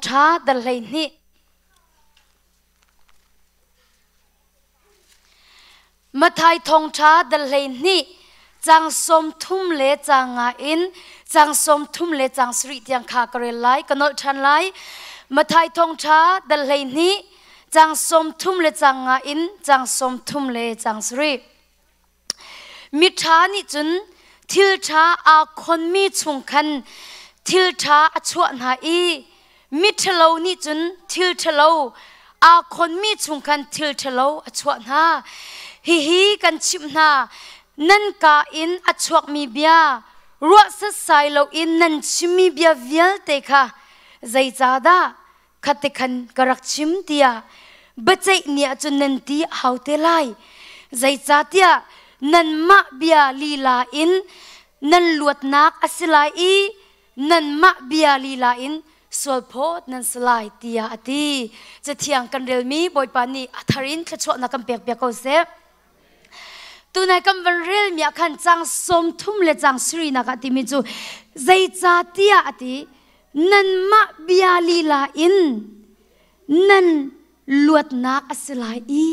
ṭha dal hleihnih. Mathai thawngṭha dal hleihnih cang sawm thum le cang nga in cang sawm thum le cang sarih tiang kha ka rel lai ka nolh ṭhan lai Mathai thawngṭha dal hleihnih cang sawm thum le cang nga in cang sawm thum le cang sarih Miṭha nih cun thilṭha aa khonmi chung khan thilṭha a chuah hna i miṭhalo nih cun thilṭhalo aa khonmi chung khan thilṭhalo a chuah hna. Hihi kan chimh hna, nan ka in a chuakmi bia, ruah setsai loin nan chimmi bia vialte kha zeicahdah khate khan ka rak chim tia baceih ni ah cun nan ti hau te lai zeicahtiah nanmah bia lila in nan luatnak a si lai i nanmah bia lila in sualphawt nan si lai tiah a ti cathiang kan relmi bawipa nih a thar in thluachuahnak kan pek piak ko seh Tunai kan van relmi ah khan cang sawm thum le cang siri nak ah timi cu zeica tiah a ti nanmah bia lila in nan luatnak a si lai i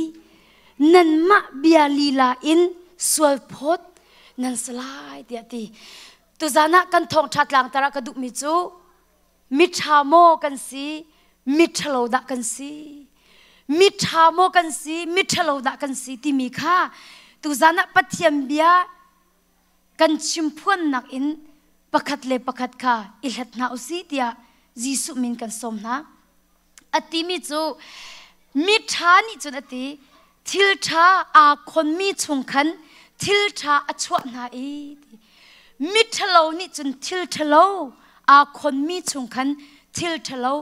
nanmah bia lila in sualphawt nan si lai tiah a ti tuzan ah kan thawngṭha tlangtar ah ka duhmi cu Miṭha maw kan si? Miṭhalo dah kan si? Miṭha maw kan si? Miṭhalo dah kan si? timi kha tuzan ah Pathian bia kan chimphuannak in pakhat le pakhat kha i hlat hna u si tiah Jesuh min kan sawm hna. a timi cu mi ṭha nih cun a ti thil ṭha aa khonmi chung khan thil ṭha a chuah hna i mi ṭhalo nih cun thil ṭhalo aa khonmi chung khan thil ṭhalo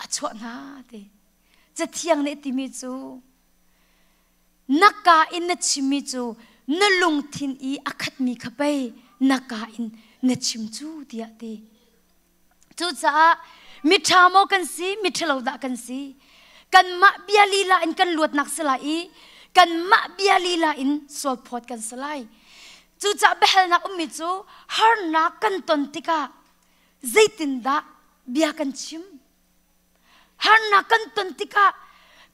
a chuah hna ti cathiang nih timi cu na ka in na chimmi cu na lungthin i a khatmi kha pei na ka in na chim cu tiah ti Cucaah miṭha maw kan si, miṭhalo dah kan si? Kanmah bia lila in kan luatnak si lai i kanmah bia lila in sualphawt kan si lai. Cucaah biahalnak ummi cu harnak kan ton tikah zeitindah bia kan chim? Harnak kan ton tikah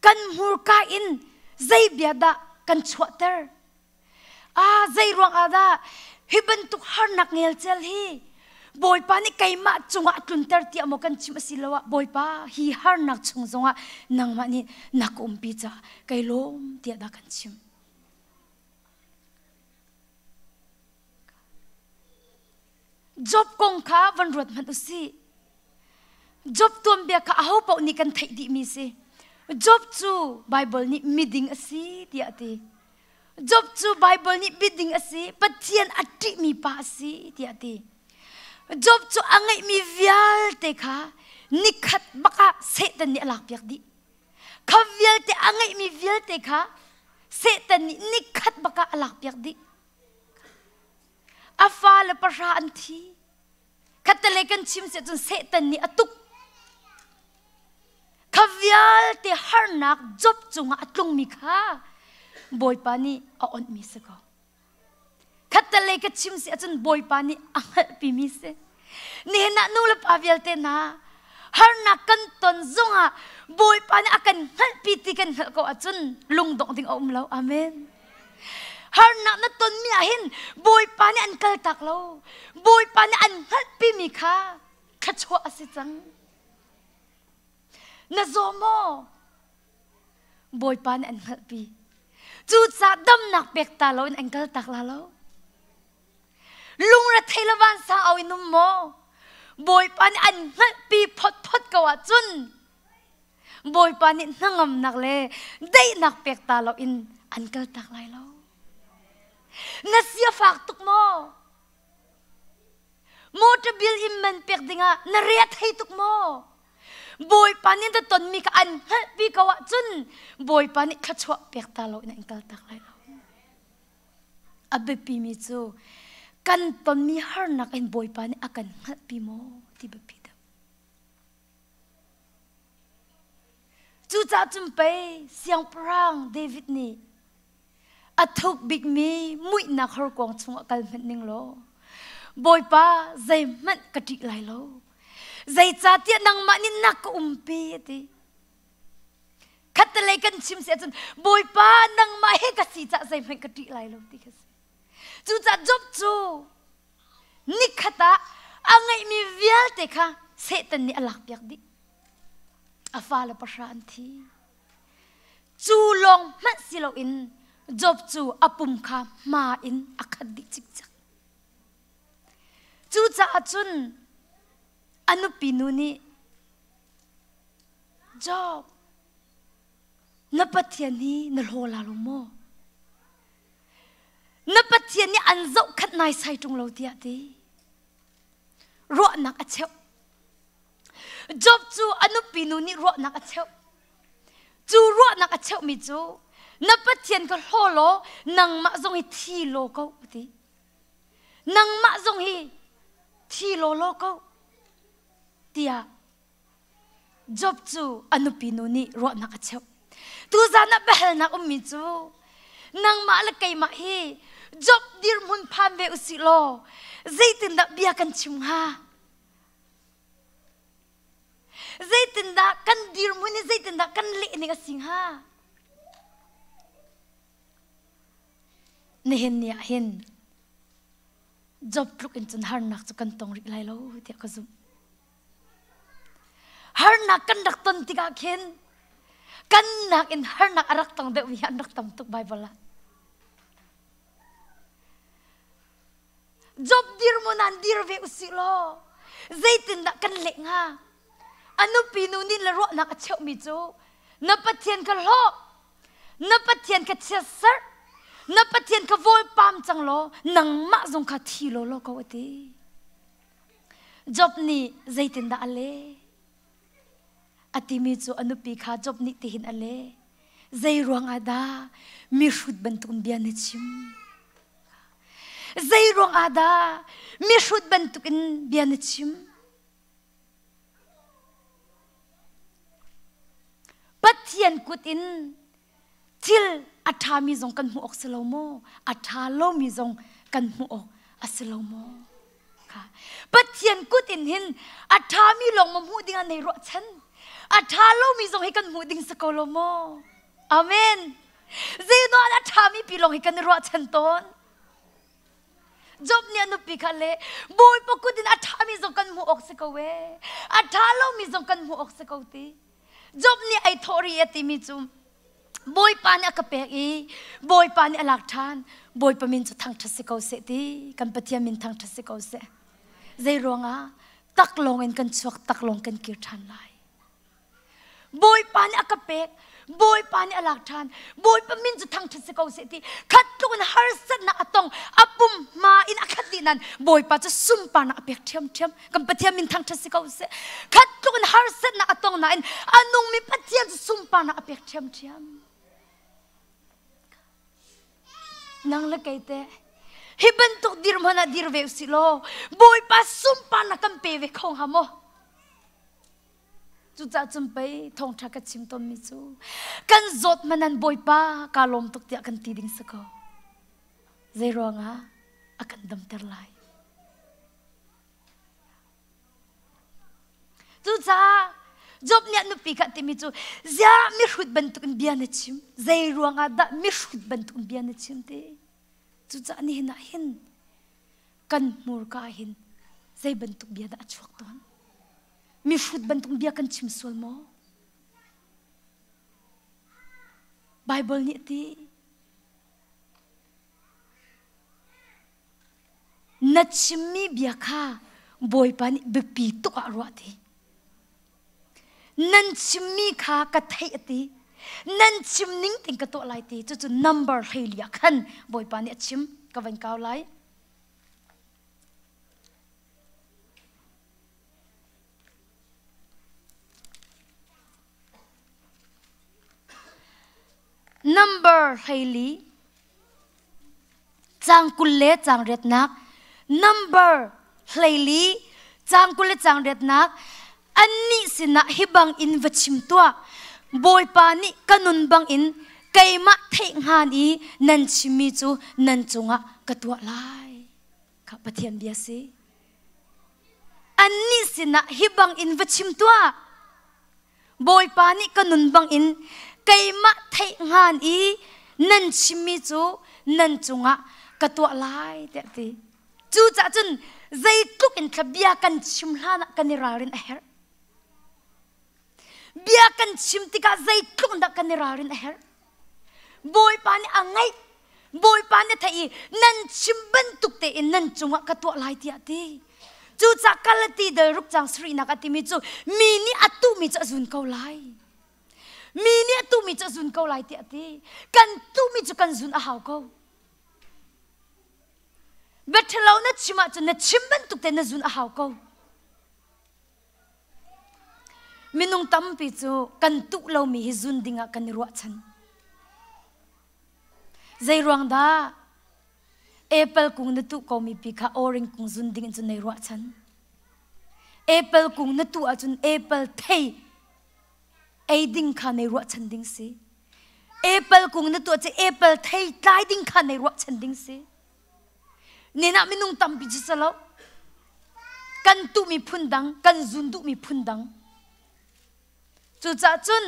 kan hmurka in zei bia dah kan chuahter? ah zei ruang ah dah hi bantuk harnak ngelcel hi Bawipa nih keimah cungah tlunter tiah maw kan chim a si lo ah Bawipa hi harnak chung zongah nangmah nih na ka umpi caah kai lawm tiah dah kan chim. Job kong kha van ruat hmanh u sih. Job tuanbia kha aho paoh nih kan theih dihmi si. Job cu Baibal nih miding a si tiah a ti. Job cu Baibal nih biding a si, Pathian a ṭihmi pa a si tiah a ti. Job cu a ngeihmi vialte kha nikhat bak ah Satan nih a lakpiak dih. Kha vialte a ngeihmi vialte kha Satan nih nikhat bak ah a lakpiak dih. A fale pahra an thi. Khattelei kan chim seh cun Satan nih a tuk. Kha vialte harnak job cungah a tlungmi kha Bawipa nih a onhmi si ko. Khattelei ka chim si ahcun Bawipa nih a hngalhpimi si. nihin ah nulepa vialte hna harnak kan ton zongah Bawipa nih a kan hngalhpi ti kan hngalh ko ahcun lungdongh ding a um lo. Amen. Harnak na tonmi ahhin Bawipa nih an kaltak lo. Bawipa nih an hngalhpimi kha thluachuah a si cang. Na zaw maw? Bawipa nih an hngalhpi. Cucaah damnak pek ta loin an kaltak la lo. Lungrethei le vansa au in um maw? Bawipa nih an hngalhpi photphot ko ahcun Bawipa nih hnangamnak le daihnak pek ta lo in an kaltak lai lo. Na sia fak tuk maw? Motor bill in man pek dingah na rea thei tuk maw? Bawipa nih na tonmi ka an hngalhpi ko ahcun Bawipa nih thluachuah pek ta lo in an kaltak lai lo. A biapimi cu kan tonmi harnak in Bawipa nih a kan hngalhpi maw ti biapi deuh. Cucaah cun pei siangpahrang David nih a thuk bikmi muihnak horkuang chungah kal hmanh ning law Bawipa zeihmanh ka ṭih lai lo zeicahtiah nangmah nih nak ka umpi a ti. khattelei kan chim si ahcun bawipa nangmah he ka si cah zeihmanh ka ṭih lai lo ti ka si cucaah job cu nikhat ah a ngeihmi vialte kha Satan nih a lakpiak dih a fale pahra an thi cu lawng hmanh si loin Job cu a pum kha hma in a khat dih cikcak cucaah cun a nupi nu nih Job, na Pathian hi na hlaw la lo maw? Na Pathian nih an zohkhat naisai ṭung lo tiah ti ruahnak a cheuh. Job cu a nupi nu nih ruahnak a cheuh. Cu ruahnak a cheuhmi cu na Pathian ka hlaw law nangmah zong hi thi law ko ti. Nangmah zong hi thi law law ko tiah Job cu a nupi nu nih ruahnak a cheuh. Tuzan ah biahalnak ummi cu nangmah le keimah hi Job dirhmun phan ve usih law zeitindah bia kan chim hnga? Zeitindah kan dirhmun i zeitindah kan lehning a si hnga? Nihin ni ah hin Job tluk in cun harnak cu kan tong rih lai lo tiah ka zumh. harnak kan rak ton tikah khin kan nakin harnak a rak tong deuhmi hi an rak tam tuk Baibal ah. Job dirmun aan dir ve usih law zeitindah kan leh hnga? A nupi nu nih le ruahnak a cheuhmi cu na Pathian ka hlawh, na Pathian ka chiatserh, na Pathian ka vawlpam cang law nangmah zong kha thi law law ko a ti. Job nih zeitindah a leh? A timi cu a nupi kha Job nih tihin a leh. Zei ruangah dah mihrut bantuk bia na chim? Zei ruangah dah mihrut bantukin bia na chim? Pathian kut in thil a ṭhami zong kan hmuh awk si lo maw a ṭha lomi zong kan hmuh awk a si lo maw Pathian kut in hin a ṭhami lawng ma hmuh dingah nei ruahchan a ṭha lomi zong hi kan hmuh ding si ko lo maw amen zeidawn a ṭhami pi lawng hi kan i ruahchan tawn Job nih a nupi kha le bawipa kut in a ṭhami zong kan hmuh awk si ko e a ṭha lomi zong kan hmuh awk si ko ti Job nih ei thawh ri a timi cu Bawipa nih a ka pek i Bawipa nih a lak ṭhan Bawipa min cu thangṭhat si ko seh ti kan Pathian min thangṭhat si ko seh zei ruangah tak lawng in kan chuak tak lawng kan kir ṭhan lai Bawipa nih a ka pek Bawipa nih a lak ṭhan Bawipa min cu thangṭhat si ko seh ti khat tluk in harsatnak a tong a pum hma in a khat dih nan Bawipa cu sunparnak a pek ṭhiamṭhiam kan pathian min thangṭhat si ko seh khat tluk in harsatnak a tong nain a nungmi pathian cu sunparnak a pek ṭhiamṭhiam nang le kei te hi bantuk dir hmanh ah dir ve usih law bawipa sunparnak kan pe ve kho hnga maw cucaah cun pei thawngṭha ka chim tonmi cu kan zawt manan bawipa kaa lawm tuk tiah kan ti ding si ko zei ruangah a kan damter lai Cucaah Job nih nupi kha a timi cu ziah mihrut bantukin bia na chim zei ruangah dah mihrut bantukin bia na chim ti cucaah nihin ah hin kan hmurka hin zei bantuk bia dah a chuak tawn mihrut bantuk bia kan chim sual maw Bible nih ti Na chimmi bia kha Bawipa nih biapi tuk ah ruah ti. Nan chimmi kha ka theih a ti. Nan chim ning ting ka tuah lai ti. Cucu number hlei lia khan Bawipa nih a chim. Ka vain kau lai. Nambar hleili, caang kul le caang riatnak. Nambar hleili, caang kul le caang riatnak. Annih sinah hi bangin va chim tuah. Bawipa nih ka nun bangin keimah theih hngan i nan chimmi cu nan cungah ka tuah lai. Kha Pathian bia si. Annih sinah hi bangin va chim tuah. Bawipa nih ka nun bangin keimah theih ngan i nan chimmi cu nan cungah ka tuah lai tiah ti. Cucah cun zeitluk in thla bia kan chim hlan ah kan i ralrin a herh. Bia kan chim tikah zeitluk in dah kan i ralrin a herh. Bawipa nih a ngaih. Bawipa nih a theih i nan chim bantuk tein nan cungah ka tuah lai tiah a ti. Cucah Galati dal ruk cang sarihnak a timi cu mi nih a tuhmi cu a zun ko lai. Mi nih a tuhmi cu a zun ko lai tiah a ti. Kan tuhmi cu kan zun a hau ko. Biaṭhalo na chim ahcun na chim bantuk tein na zun a hau ko. Minung tampi cu kan tuh lomi hi zun ding ah kan i ruahchan. Zeiruang dah apple kung na tuh komi pi kha orange kung zun ding in cun nei ruahchan. Apple kung na tuh ahcun apple thei ei ding kha nei ruahchan ding si. Apple kung na tuah cu apple thei tlai ding kha nei ruahchan ding si. Nenah minung tampi cu ca lo kan tuhmi phundang kan zun duhmi phundang cucaah cun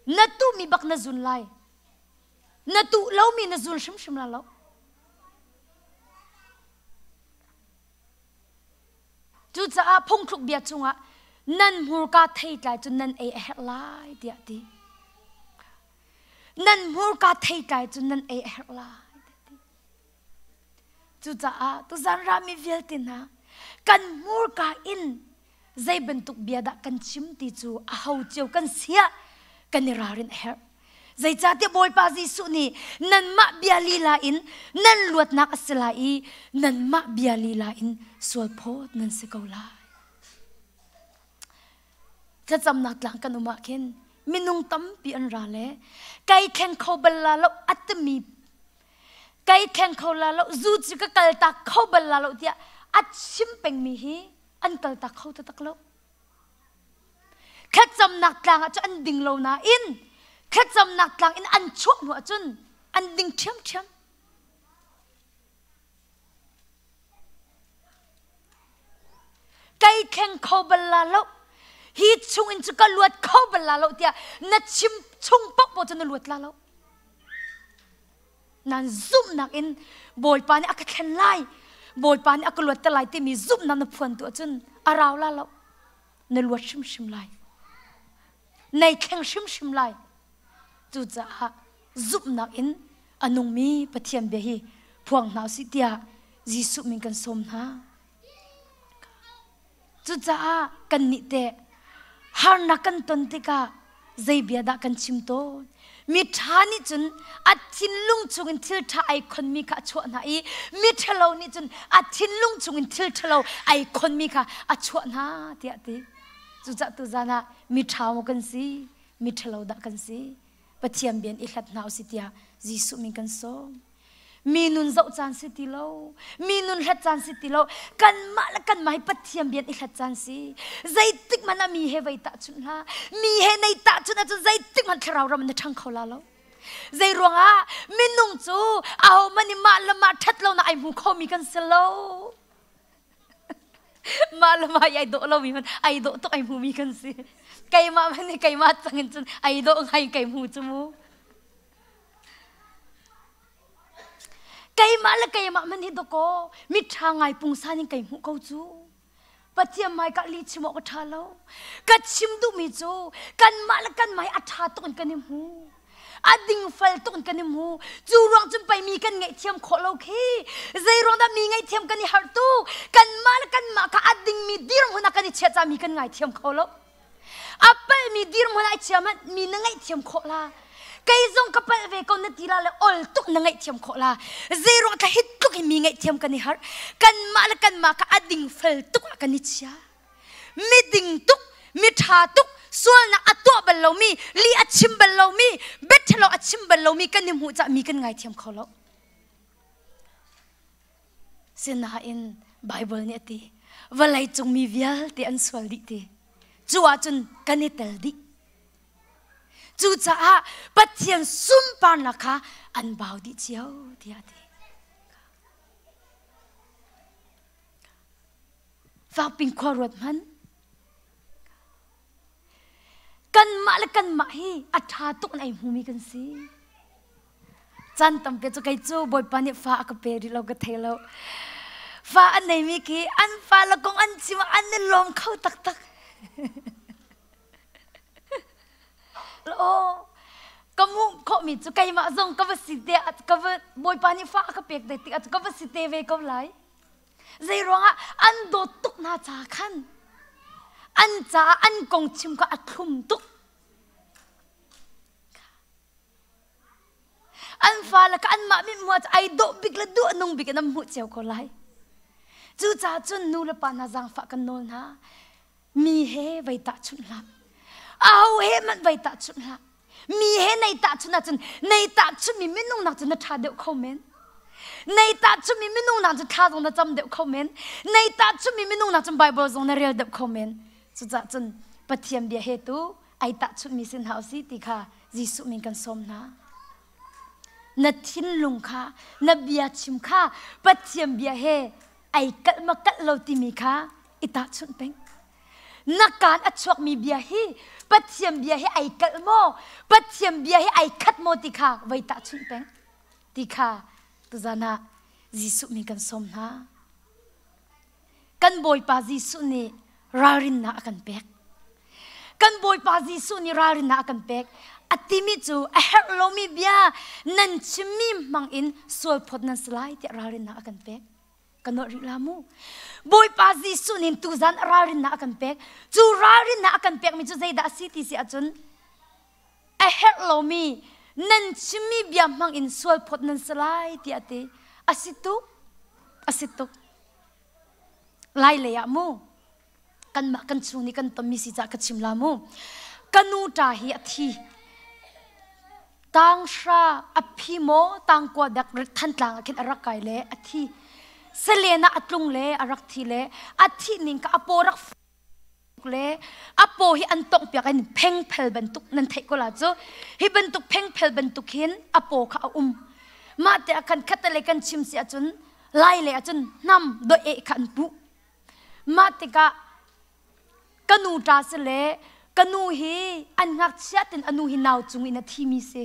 na tuhmi bak na zun lai na tuh lomi na zun hrimhrim la lo cucaah phungthluk bia cungah nan hmurka thei tlai cun nan ei a herh lai tiah ti nan hmurka thei tlai cun nan ei a herh lai Cucaah tuzan rami vialte hna kan hmurka in zei bantuk bia dah kan chim ti cu a ho cio kan siah kan i ralrin a herh. Zeicahtiah Bawipa Jesuh nih nanmah bia lila in nan luatnak a si lai i nanmah bia lila in sualphawt nan si ko lai. thlacamnak tlang kan um ah khin minung tampi an ra le kai thleng kho bal la lo atimi kai thleng kho la lo zu cu ka kal tak kho bal la lo tiah a chim pengmi hi an kal tak kho ta tak lo thlacamnak tlang ah cu an ding lo nain thlacamnak tlang in an chuah hnu ahcun an ding ṭhiamṭhiam Kai kheng kho bal la lo. Hi chungin cu ka luat kho bal la lo tiah na chim chung paohpaoh cu na luat la lo. Nan zumhnak in Bawipa nih a ka thlen lai. Bawipa nih a ka luatter lai timi zumhnak na phuan tu ahcun a rau la lo. Na luat hrimhrim lai. Nei thleng hrimhrim lai. Cucaah zumhnak in a nungmi Pathian bia hi phuang hna usih tiah Jesuh min kan sawm hna. Cucaah kannih teh harnak kan ton tikah zei bia dah kan chim tawn? Mi ṭha nih cun a thinlung chungin thil ṭha ai khonmi kha a chuah hna i mi ṭhalo nih cun a thinlung chungin thil ṭhalo ai khonmi kha a chuah hna tiah a ti. Cucah tuzan ah miṭhao kan si, miṭhalo dah kan si, Pathian bian i hlat hna usih tiah Jesuh min kan sawm. Mi nun zoh caan si ti lo, mi nun hlat caan si ti lo, kanmah le kanmah hi Pathian bian i hlat caan si. Zeitik hmanh ah mi he vei tahchunh hlah, mi he nei tahchunh ahcun zeitik hmanh thlarau ram na ṭhang kho la lo. Zei ruangah minung cu ahohmanh nih mah le mah ṭhat lonak ai hmu khomi kan si lo. Mah le mah i ai dawh lomi hmanh ai dawh tuk ai hmumi kan si. Keimah hmanh nih keimah cang in cun ai dawh ngai kai hmu cu mu. Keimah le keimah hmanh hi dawkaw mitṭha ngai pungsan in kai hmuh ko cu. Pathian hmai ka li chim awk a ṭha lo. Ka chim duhmi cu kanmah le kanmah hi a ṭha tuk in kan i hmu. a dingfal tuk in kan i mu cu ruang cun pei mi kan ngeih thiam khawh lo khi zei ruang dah mi ngeih thiam kan i harh tu kanmah le kanmah kha a dingmi dirhmun ah kan i chiah ca mi kan ngai thiam kho lo a palhmi dirhmun ah i chiam ah mi na ngeih thiam khawh la kei zong ka palh ve ko na ti la le ol tuk na ngeih thiam khawh la zei ruang ka hit tluk in mi ngeih thiam kan i harh kanmah le kanmah kha a dingfal tuk ah kan i chia miding tuk miṭha tuk sualnak a tuah bal lomi li a chim bal lomi bettelo a chim bal lomi kan i hmuh cah mi kan ngaithiam kho lo sinain Bible nih a ti vawlei cung mi vialte an sual dih ti cu ahcun kan i tel dih cucaah Pathian sunparnak kha an bau dih cio tiah a ti Vangping khua ruat hmanh. Kanmah le kanmah hi a ṭha tuk in ei hmumi kan si. Caan tampi cu kei cu Bawipa nih fa a ka pe rih lo, ka thei lo. Fa an neimi khi an fale kong an chim ah an i lawm kho taktak. Aw, ka hmuh khawhmi cu keimah zong ka va si te, ka va Bawipa nih fa a ka pek te tikah cu ka va si te ve ko lai. Zeiruangah an dawt tuk hna ca khan an caah an kong chim kha a thlum tuk. An fale ka anmah mit mua cu ai dawh bik le duh nung bik in an hmuh cio ko lai. Cucaah cun nu le pa hna zaangfah kan nawl hna. Mi he vei tahchunh hlah. Au he man vei tahchunh hlah. Mi he nei tahchunh ahcun nei tahchunmi minung nak cu na ṭha deuh kho men. Nei tahchunmi minung nak cu thla zong na cam deuh kho men. Nei tahchunmi minung nak cun Bible zong na rel deuh kho men. Cucah cun Pathian bia he tu ai tahchunmi sin hau si ti kha Jesuh min kan sawm hna. Na thinlung kha, na bia chim kha Pathian bia he ai kalh ma kalh lo timi kha i tahchunh peng na kaan a chuakmi bia hi pathian bia hi ai kalh maw pathian bia hi ai khat maw ti kha voi tahchunh peng ti kha tuzan ah Jesuh mi kan sawm hna kan bawipa Jesuh nih ralrinnak a kan pek. Kan Bawipa Jesuh nih ralrinnak a kan pek. A timi cu a herh lomi bia nan chimmi hmang in sualphawt nan si lai tiah ralrinnak a kan pek. Ka nuah rih la mu. Bawipa Jesuh nih tuzan ralrinnak a kan pek. Cu ralrinnak a kan pekmi cu zeidah a si ti si ahcun a herh lomi nan chimmi bia hmang in sualphawt nan si lai tiah a ti. A si tuk. A si tuk. Lailei ah mu kanmah kan chung i kan tonmi si cah ka chim la mu ka nu ṭa hi a thi tang hra a phi maw tang kua dek thantlang ah khin a rak kai le a thi selen ah a tlung le a rak thi le a thih ning ka a paw rak le a paw hi an tonghpiak in phengphel bantuk nan theih ko la cu hi bantuk phengphel bantuk hin a paw kha a um mah te a kan khata le kan chim si ahcun lai le ahcun hnam doe kha an puh mah tikah ka nu ta si le ka nu hi an ngakchia tin a nu hi nau cung in a thimi si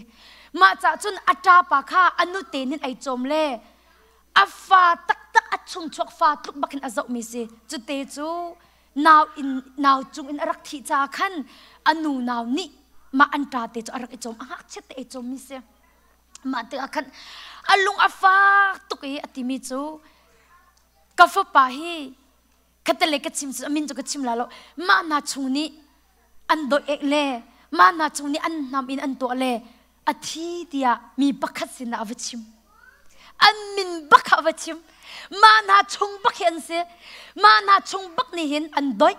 mah cah cun a ṭapa kha a nu tenin ai cawm le a fa taktak a chungchuak fa tluk bakin a zohmi si cute cu nau in nau cung in a rak thih caah khan a nu nau nih mah an tate cu a rak i cawm a ngakchiat te i cawmmi si mah tikah khan a lung a fak tuk i a timi cu ka fapa hi ka tale ka chim cu amin cu ka chim la lo ma na chung nih an doh ek le ma na chung nih an nam in an tuah le a thi tiah mi pakhat sin a va chim an min bak a va chim ma na chung bak hi an si ma na chung bak nih hin an doih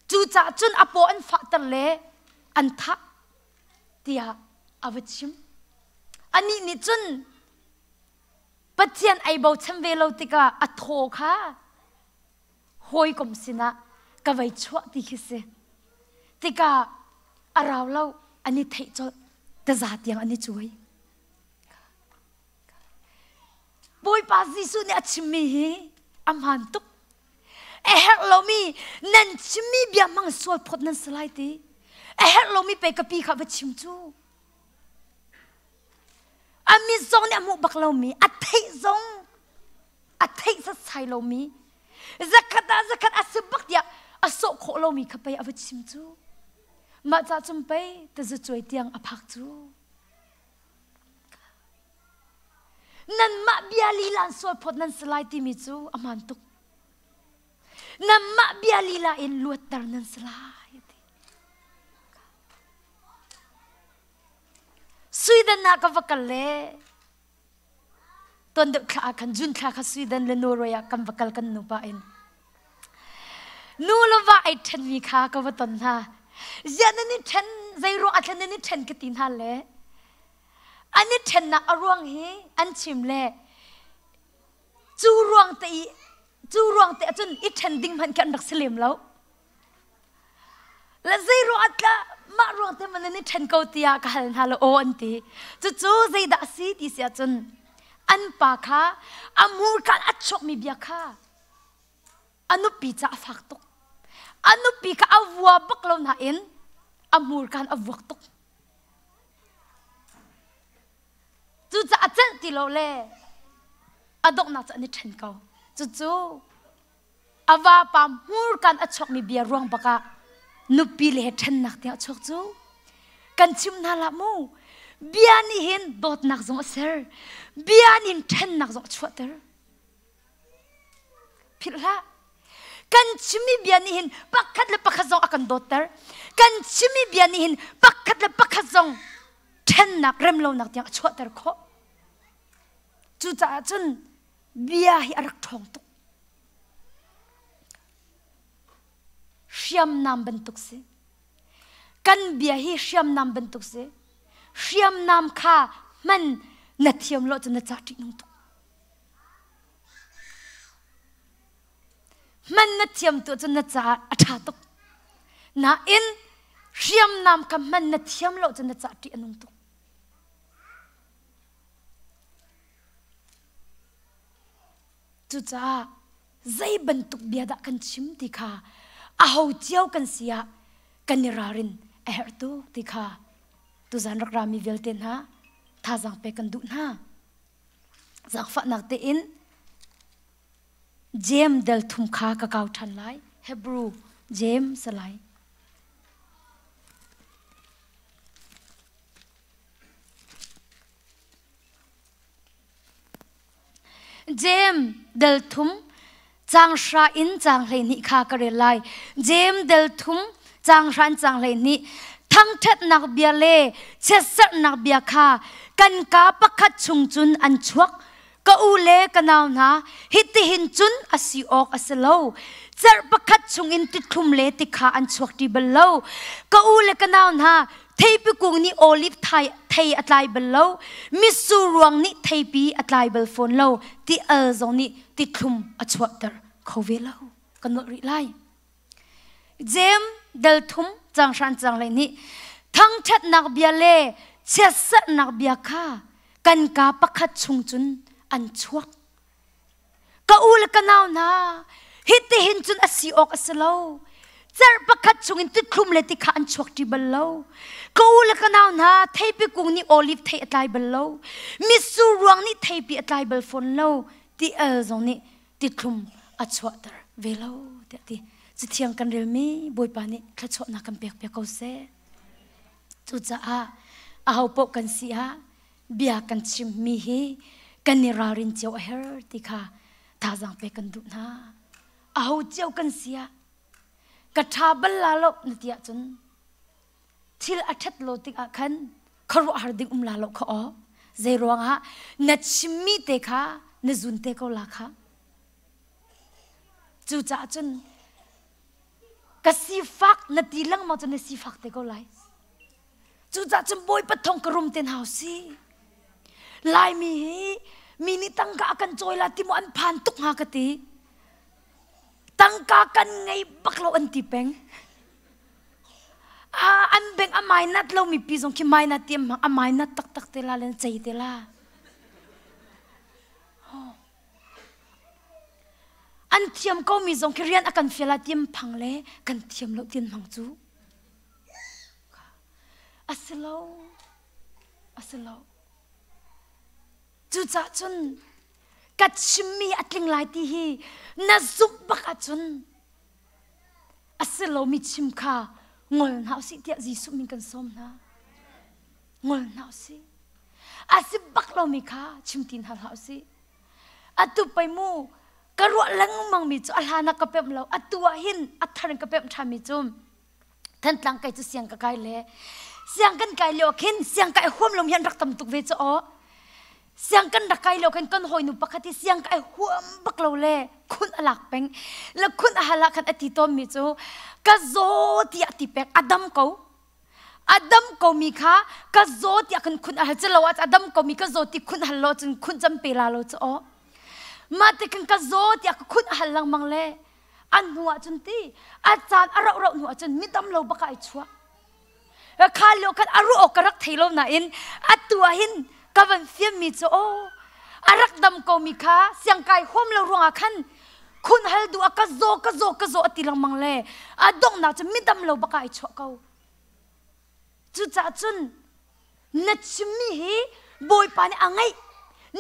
cu cah cun apo an fahter le an thah tiah a va chim anih nih cun Pathian ei bochan ve lo tikah a thaw kha hawikom sinah ka vei chuah ti khi si. Tika a rau lo an i theih colh. Taza tiang an i cuai. Bawipa Jesuh nih a chimmi hi a hmaan tuk. A herh lomi nan chimmi bia hmang sual phawt nan si lai ti. A herh lomi pe ka pi kha va chim cu. A mit zong nih a hmuh bak lomi, a theih zong a theih setsai lomi, zakhat ah zakhat a si bak tiah a sawh khawh lomi kha pei a va chim cu. Mah ca cum pei tazacuai tiang a phak cu. Nanmah bia lilan sual phawt nan si lai timi cu a man tuk. Nanmah bia lila in luatter nan si lai. Sweden ah ka va kal le ton deuh thla ah khan jun thla kha Sweden le Norway ah kan va kal kan nupa in nu lo va ai ṭhen mi kha ka va ton hna zianan ni ṭhen zei ruang a thlen ni ṭhen ka ti hna le an i ṭhennak a ruang hi an chim le cu ruang te i cu ruang te ahcun i ṭhen ding hmanh khi an rak si lem lo la zei ruang tlah mah ruang te man in i ṭhen ko tiah ka hal hna lo aw an ti cucu zeidah a si ti si ahcun an pa kha a murkan a chawkmi bia kha a nupi ca a fak tuk a nupi kha a vua bak lo nain a murkan a vuak tuk Cucaah celh ti lo le a donghnak cu an i ṭhen ko. Cucu a vapa hmurkan a chuakmi bia ruang bakah nupi le he ṭhennak tiang a chuak cu. Kan chim hna hlah mu, bia nih hin dawtnak zong a ser, bia nih hin ṭhennak zong a chuahter. Philh hlah. Kan chimmi bia nih hin pakhat le pakhat zong a kan dawtter. Kan chimmi bia nih hin pakhat le pakhat zong ṭhennak remlonak tiang a chuahter khawh. Cucaah cun bia hi a rak ṭhawng tuk. Hriamnam bantuk si. Kan bia hi hriamnam bantuk si. Hriamnam kha hman na thiam lo cun na ca ṭih nung tuk. man na thiam tu cu na caah a ṭha tuk nain hriamnam ka man na thiam lo cu na caah ṭih a nung tuk cucaah zei bantuk bia dah kan chim ti kha aho cio kan si ah kan i ralrin a herh tuk ti kha tuzan rak rami vialte hna thazang pe kan duh hna zakfahnak tein Jeim dal thum kha ka kau ṭhan lai. Hebru Jeim salai. Jeim dal thum changhra in changhhlei nih kha ka rel lai. Jeim dal thum changhra in changhhlei nih thangṭhatnak bia le chiatserhnak bia kha kan ka pakhat chung cun an chuak ka u le ka nau hna hitihin cun a si awk a si lo cerh pakhat chungin tithlum le tikha an chuak ṭi bal lo ka u le ka nau hna theipi kung nih olif thai thei a tlai bal lo mitsu ruang nih theipi a tlai bal fawn lo ti al zong nih tithlum a chuahter kho ve lo ka nuah rih lai Jem dal thum cang hran cang le nih thangṭhatnak bia le chiatserhnak bia kha kan ka pakhat chung cun an chuak. Ka u le ka nau hna, hitihin cun a si awk a si lo. Cerh pakhat chungin tithlum le tikha an chuak ṭi bal lo. Ka u le ka nau hna, theipi kung nih oliv thei a tlai bal lo. Mitsur ruang nih theipi a tlai bal fawn lo, ti el zong nih tithlum a chuahter ve lo tiah ti cithiang kan relmi bawipa nih thluachuahnak kan pek piak ko seh cucaah aho poh kan si ah bia kan chimmi hi kan i ralrin cio a her ti kha thazaang pe kan duh hna aho cio kan si ah ka tha bal la lo na ti ahcun thil a ṭhat lo tikah khan khuaruahhar ding um la lo kha aw zei ruangah na chimmi te kha na zun te ko la kha cucaah cun ka sifak na ti lengmang cun na sifak te ko lai cucaah cun bawipa thong ka rum ten hau si laimi hi mi nih tangka a kan cawila ti mu an phan tuk hnga ka ti tangka kan ngei bak lo an ti peng a an beng a mainat lomi pi zong khi mainat ti a mainat taktak te la len cei te la an thiam komi zong khi rian a kan fiala tiam phang le kan thiam lo tian mang cu asilo asilo cucah cun ka chimmi a tling lai ti hi na zumh bak ahcun a si lomi chim kha ngol hna u sih tiah Jesuh min kan sawm hna ngol hna u sih a si bak lomi kha chim ti hna hlah u sih atu pei mu ka ruah lengmangmi cu a hlan ah ka pemh lo atu ah hin a thar in ka pemh ṭhami cu Thantlang kai cu siang ka kai le siang kan kai lio khin siang kai huam lom hian rak tam tuk ve chu o siang kan rak kai lo khin kan hawi nu pakhat hi siang kai huam bak lo le khun a lak peng le khun a hala khan a ti tom mi cu ka zo tiah ti pek a dam ko a dam ko mi kha ka zo tiah khan khun a hal chelo a dam ko mi ka zo ti khun hal lo cun khun cham pe la lo chu o mah te khan ka zo tiah ka khun a hal langmang le an hnu ah cun ti a caan a rauh rauh hnu ah cun mi tam lo baka ai chuak khan lio khan a ruah awk ka rak thei lo nain atu ah hin ka van fiam mi cu aw a rak dam ko mi kha siang kai huam lo ruangah khan khun hal du a ka zaw ka zaw ka zaw a ti lengmang le a donghnak cu mi dam lo baka ai chuah ko cucaah cun na chimmi hi bawipa nih a ngaih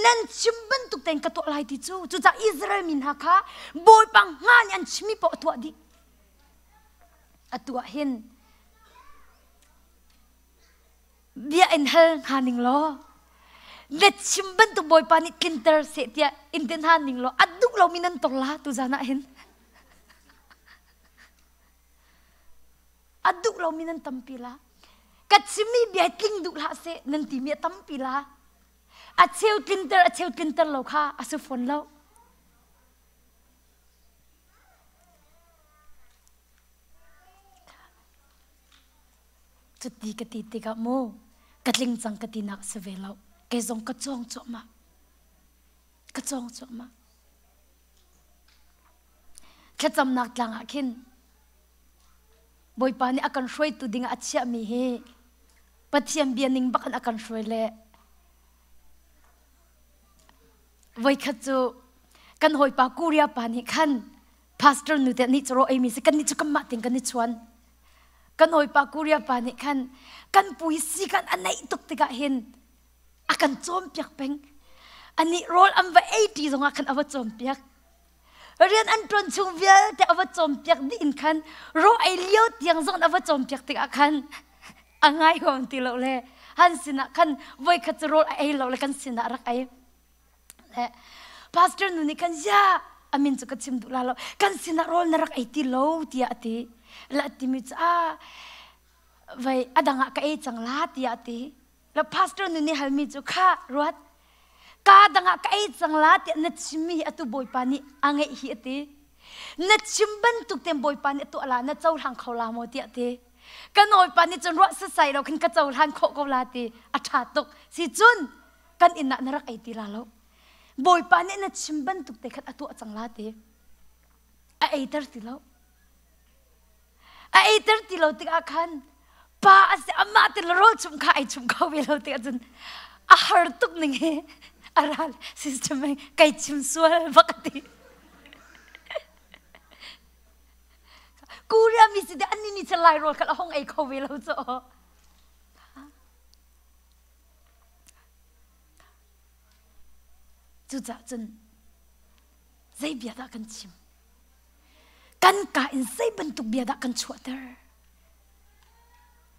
nan chim bantuk tein ka tuah lai ti cu cucah Israel mi hna kha bawipa nga nih an chimmi paoh a tuah dih a tuah hin bia in hal hna ning law na chim bantuk bawipa nih tlinter seh tiah in ti hna ning law a duh lomi nan tor la tu zan ah hin a duh lomi nan tampi la ka chimmi bia tling duh hlah seh nan timi a tampi la a cheu tlinter a cheu tlinter lo kha a si fawn lo cuti ka ti tikah mu ka tling cang ka ti nak si ve lo kei zong ka cawng cuahmah ka cawng cuahmah thlacamnak tlang ah khin bawipa nih a kan hruaitu ding ah a chiahmi hi pathian bia ning bak in a kan hruai le voikhat cu kan hawipa kuria pa nih khan pastor nu te nih coro ei mi si kan ni cu kan mah ting kan ni chuan kan hawipa kuria pa nih khan kan pui si kan a neih tuk tikah hin a kan cawnpiak peng anih rawl an va ei ti zongah khan a va cawnpiak rian an ṭuan chung vialte a va cawnpiak dih in khan ro ei lio tiang zong a va cawnpiak tikah khan a ngai huam ti lo le han sinah khan voi khat cu rawl a ei lo le kan sinah rak ei le pastor nu nih khan zia amin cu ka chim duh la lo kan sinah rawl na rak ei ti lo tiah a ti la timi cu a vei a dangah ka ei cang la tiah a ti na pastor nun i halmi cu kha ruat ka dangah ka ei cang la tiah na chimmi hi atu bawipa nih a ngeih hi a ti na chim bantuk ten bawipa nih a tuah la na cohlang kho la maw tiah ti ka nawipa nih cun ruah sasai lo khin ka cohlan khawh ko la ti a ṭha tuk si cun kan inn ah na rak ei ti la lo bawipa nih na chim bantuk te khan a tuah cang la ti a eiter ti lo a eiter ti lo tikah khan pa a si amah te le rawl chung kha ai chung kho ve lo tikah cun a har tuk ning hi a ral sister mei kai chim sual bak a ti kuria mi si de anni ni se lai rawl kha la hong ei kho ve lo cho cucah cun zei bia dah kan chim kan ka in zei bantuk bia dah kan chuahter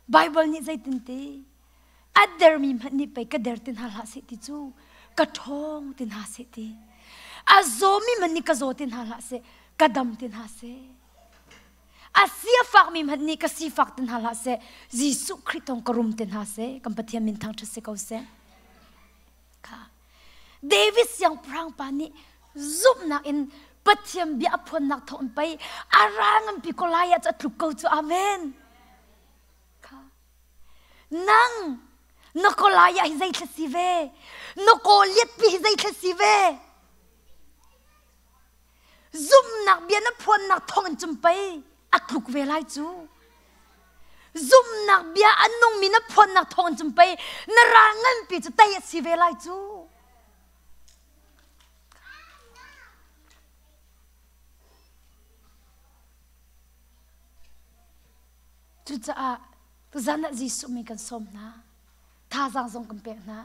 Bible nih zeitinte a dermi hmanh nih pei ka der ti hna hlah seh ti cu ka ṭhawng ti hna seh ti a zawmi hmanh nih ka zaw ti hna hlah seh ka dam ti hna seh a sia fakmi hmanh nih ka si fak ti hna hlah seh Jesuh Khrih tong ka rum ti hna seh kan Pathian min thang ṭha si ko seh kha David siangpahrang pa nih zumhnak in Pathian bia a phuannak thawng in pei a ral nganpi Goliath cu a tluk ko cu amen kha nang na Goliath hi zeitlai si ve na Goliath pi hi zeitlai si ve zumnak bia na phuannak thawng in cun pei a tluk ve lai cu zumnak bia a nungmi na phuannak thawng in cun pei na ral nganpi cu tei a si ve lai cu cucaah zan ah Jesuh mi kan sawm hna thazaang zong kan pek hna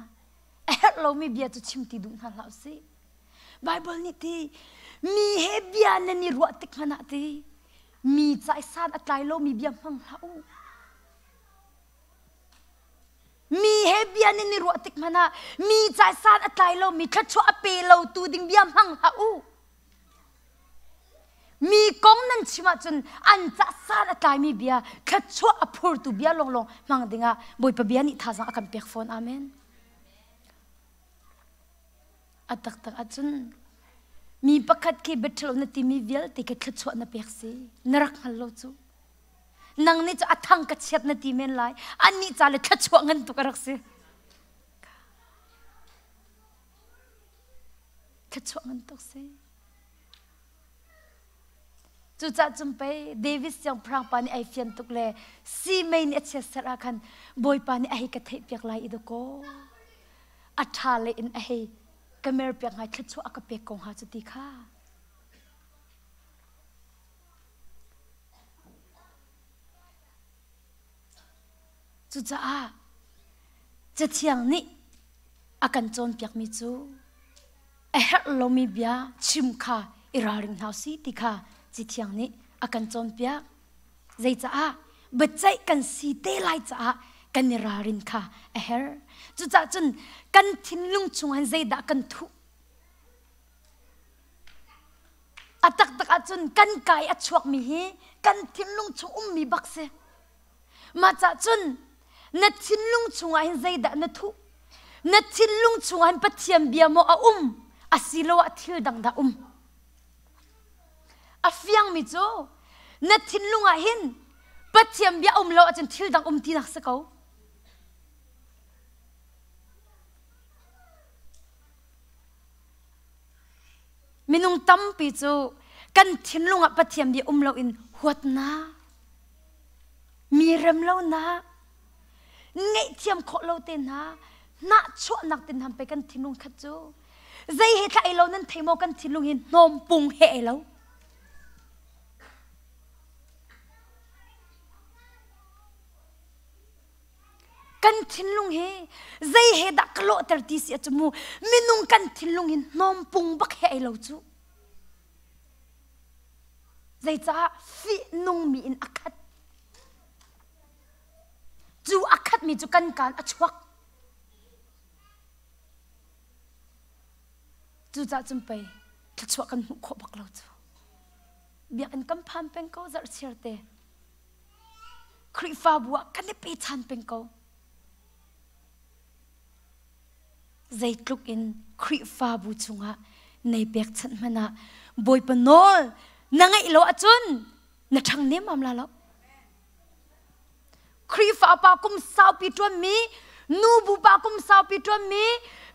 a herh lomi bia cu chim ti duh hna hlah u sih Baibal nih ti mi he bia nan i ruah tik hmanh ah ti mi caisan a tlai lomi bia hmang hlah u. Mi he bia nan i ruah tik hmanh ah mi caisan a tlai lomi thluachuah a pe lo tu ding bia hmang hlah u. Mi kong nan chim ahcun an cahsan a tlaimi bia thluachuah a phurtu bia lawnglawng hmang dingah Bawipa bia nih thazang a kan pek fawn. Amen. A taktak ahcun mi pakhat khi betrol na timi vialte khi thluachuah na pek si na rak hngal lo cu. Nang nih cu a thang ka chiat na ti men lai. Annih ca le thluachuah ngan tuk a rak si. Thluachuah ngan tuk si. Cucah cung pei Davis siangpahrang pa nih ai fian tuk le si mei nih a chiatserh ah khan Bawipa nih a hei ka theih piak lai i dakaw a ṭha le in a hei ka mer piak ngai thluachuah a ka pek ko hnga cu ti kha. Cucaah Cathiang nih a kan cawnpiakmi cu a herh lomi bia chim kha i ralring hna si ti kha Cathiang nih a kan cawnpiak. Zeicaah biaceih kan si te lai caah kan i ralrin kha a herh. Cucahcun kan thinlung chungah in zeidah kan thuh? A taktak ahcun kan kai a chuakmi hi kan thinlung chung ummi bak si. Macah cun na thinlung chungah hin zeidah na thuh? Na thinlung chungah hin Pathian bia maw a um asiloah thil dang dah um? A fiangmi cu na thinlung ah hin Pathian bia um lo ahcun thil dang um ti nak si ko. Minung tampi cu kan thinlung ah Pathian bia um loin huatnak, mi rem lonak, ngaihthiam khawh lo te hna, nahchuahnak te hna pe kan thinlung khat cu zei he thlah i lo nan thei maw kan thinlung hi hnawmpung he ai lo. kan thinlung hi zei he dah ka lawhter ti si cu mu minung kan thinlung in hnawmpung bak he ei lo cu zeicah fih nungmi in a khat cu a khatmi cu kan kaan a chuak cucah cun pei thluachuah kan hmuh khawh bak lo cu biakinn kan phan peng ko zarh chiarte Khrihfabu ah kan i pechan peng ko. Zeitluk in Khrihfabu chungah nei pekchanh hmanh ah Bawipa nawl na ngaih lo ahcun na ṭhang nemam la lo. Khrihfa pa kum saupi ṭuanmi, nubu pa kum saupi ṭuanmi,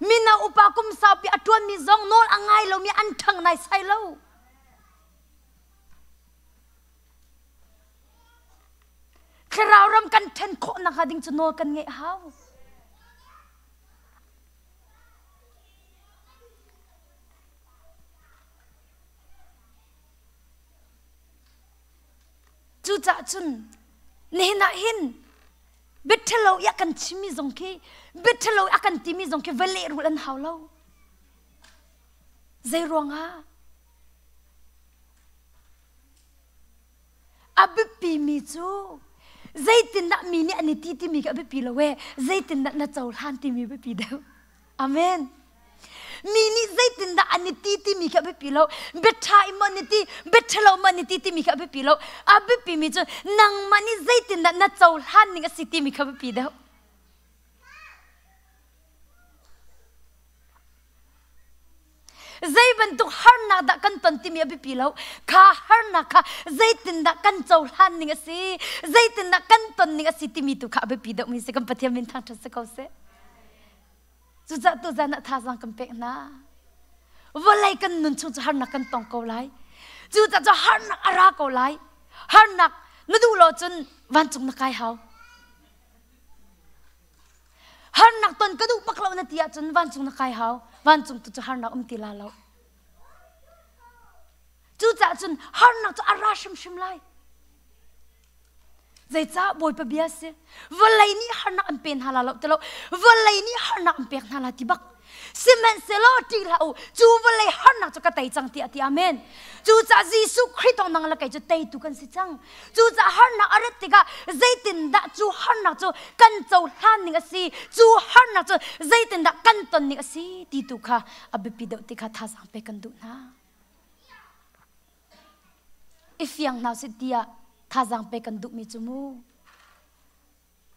mino upa kum saupi a ṭuanmi zong nawl a ngai lomi an ṭhang naisai lo. Thlarau ram kan ṭhen khawh nakhnga ding cu nawl kan ngeih a hau. Cucaah cun nihin ah hin biaṭhalo i a kan chimmi zong khi biaṭhalo i a kan timi zong khi va lehrulh an hau lo. Zei ruangah? A biapimi cu zeitindah mi nih an i ti timi khi a biapi lo ee. Zeitindah na cohlan timi a biapi deuh. Amen. Mi nih zeitindah an i ti timi khi a biapi lo. Biaṭha in maw an i ti, biaṭha lo maw an i ti timi khi a biapi lo. A biapimi cu nangmah nih zeitindah na cohlan ning a si timi khi a biapi deuh. Zei bantuk harnak dah kan ton timi a biapi lo. Kha harnak kha zeitindah kan cohlan ning a si, zeitindah kan ton ning a si timi tu kha a biapi deuhmi si kan Pathian min thangṭhat si ko seh. Cucah tuzan ah thazang kan pek hna. Vawlei kan nun chung cu harnak kan tong ko lai. Cucah cu harnak a ra ko lai. Harnak na duh lo cun vancung na kai hau. harnak ton ka duh bak lo na ti ahcun vancung na kai hau vancung tu cu harnak um ti la lo cucaah cun harnak cu a ra hrimhrim lai zeicah bawipa bia si vawlei nih harnak an pe hna la lo ti lo vawlei nih harnak an pek hna la ti bak sihmanhsehlaw ṭih hlah u cu vawlei harnak cu ka tei cang tiah a ti amen cucaah Jesuh Khrih thawng nang le kei cu teitu kan si cang cucaah harnak a rat tikah zeitindah cu harnak cu kan cohlan ning a si cu harnak cu zeitindah kan ton ning a si ti tu kha a biapi deuh ti kha thazaang pe kan duh hna i fiang hna sih tiah thazaang pe kan duhmi cu mu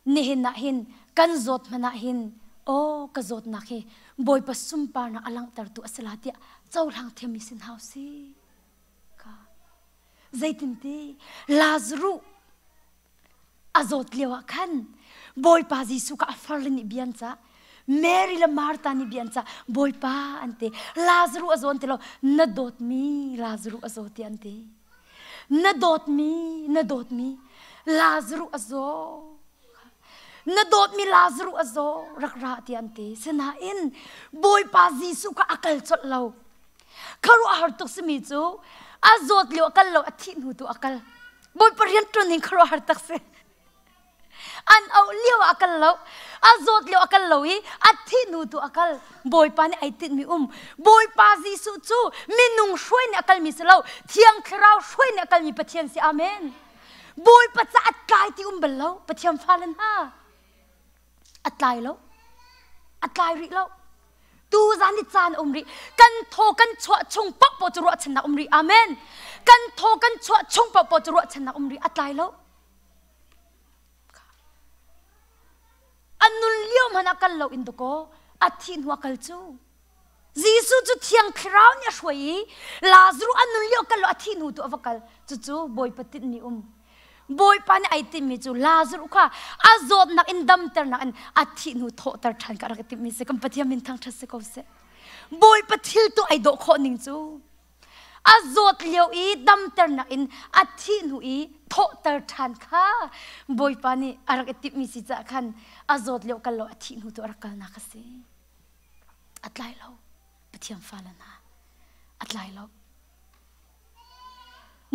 Nihin ah hin kan zawt hmanh ah hin aw ka zawtnak hi Bawipa sunparnak a langhtertu a si la tiah cohlang thiam i sin hau si ka zeitinti Lazaruh a zawt lio ah khan Bawipa Jesuh ka a farlin i bian ca Mary le Martha nih bian ca Bawipa an ti Lazaruh a zawn ti lo na dawtmi Lazaruh a zaw ti an ti na dawtmi na dawtmi Lazaruh a zaw na dawtmi Lazaruh a zaw rak ra ti an ti sinain Bawipa Jesuh kha a kal colh lo kharu a har tuk simi cu a zawt lio a kal lo a thih hnu tu a kal Bawipa rian ṭuan in kharu a har tak si an auh lio ah a kal lo a zawt lio a kal lo i a thi hnu tu a kal bawipa nih ai tinhmi um bawipa jesuh cu minung hruai nih a kalmi si lo thiang thlarau hruai nih a kalmi pathian si amen bawipa ca at kai ti um bal lo pathian fale hna a tlai lo a tlai rih lo tu zan i caan um rih kan thaw kan chuah chung pak paw cu ruahchannak um rih amen kan thaw kan chuah chung pak paw cu ruahchannak um rih a tlai lo An nun lio hmanh ah kal loin dawkaw a thih hnu a kal cu Jesuh cu Thiang Thlarau nih a hruai i Lazaruh an nun lio kal law a thih hnu tu a va kal cucu Bawipa tinh nih um Bawipa nih ai timmi cu Lazaruh kha a zawtnak in damternak in a thih hnu thawhter ṭhan kha a rak i timhmi si kan Pathian min thangṭhat si ko seh Bawipa thil tu ai dawh khawh ning cu a zawt lio i damternak in a thih hnu i thawhter ṭhan kha Bawipa nih a rak i timhmi si caah khan a zawt lio kal lo a thih hnu tu a rak kalnak a si a tlai lo Pathian fale hna a tlai lo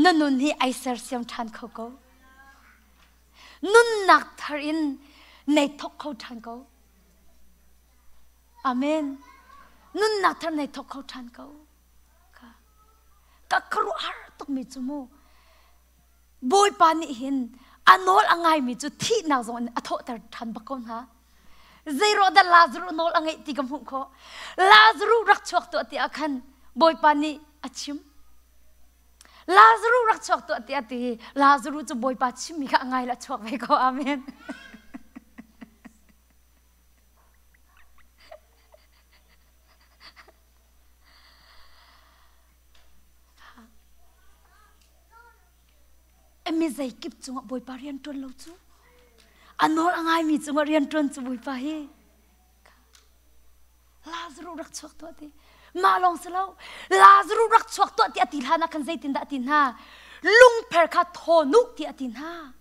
na nun hi ai sersiam ṭhan kho ko nunnak thar in nei thok kho ṭhan ko amen nunnak thar nei thok kho ṭhan ko ka ka ruah har tukmi cu mu bawipa nih hin a nawl a ngaimi cu thihnak zong in a thawhter ṭhan bak ko hna zeiruahdah Lazaruh nawl a ngeih ti ka hmuh khawh Lazaruh rak chuak tuah tiah khan bawipa nih a chim Lazaruh rak chuak tuah tiah ti Lazaruh cu bawipa chimmi kha a ngai la chuak ve ko amen Emi zeikip cungah Bawipa rian ṭuan lo cu. A nawl a ngaimi cungah rian ṭuan cu Bawipa hi. Lazaru rak chuak tuah ti. Mah lawng si lo. Lazaru rak chuak tuah ti a ti hlan ah khan zeitindah a ti hna? Lungpher kha thawnu ti a ti hna.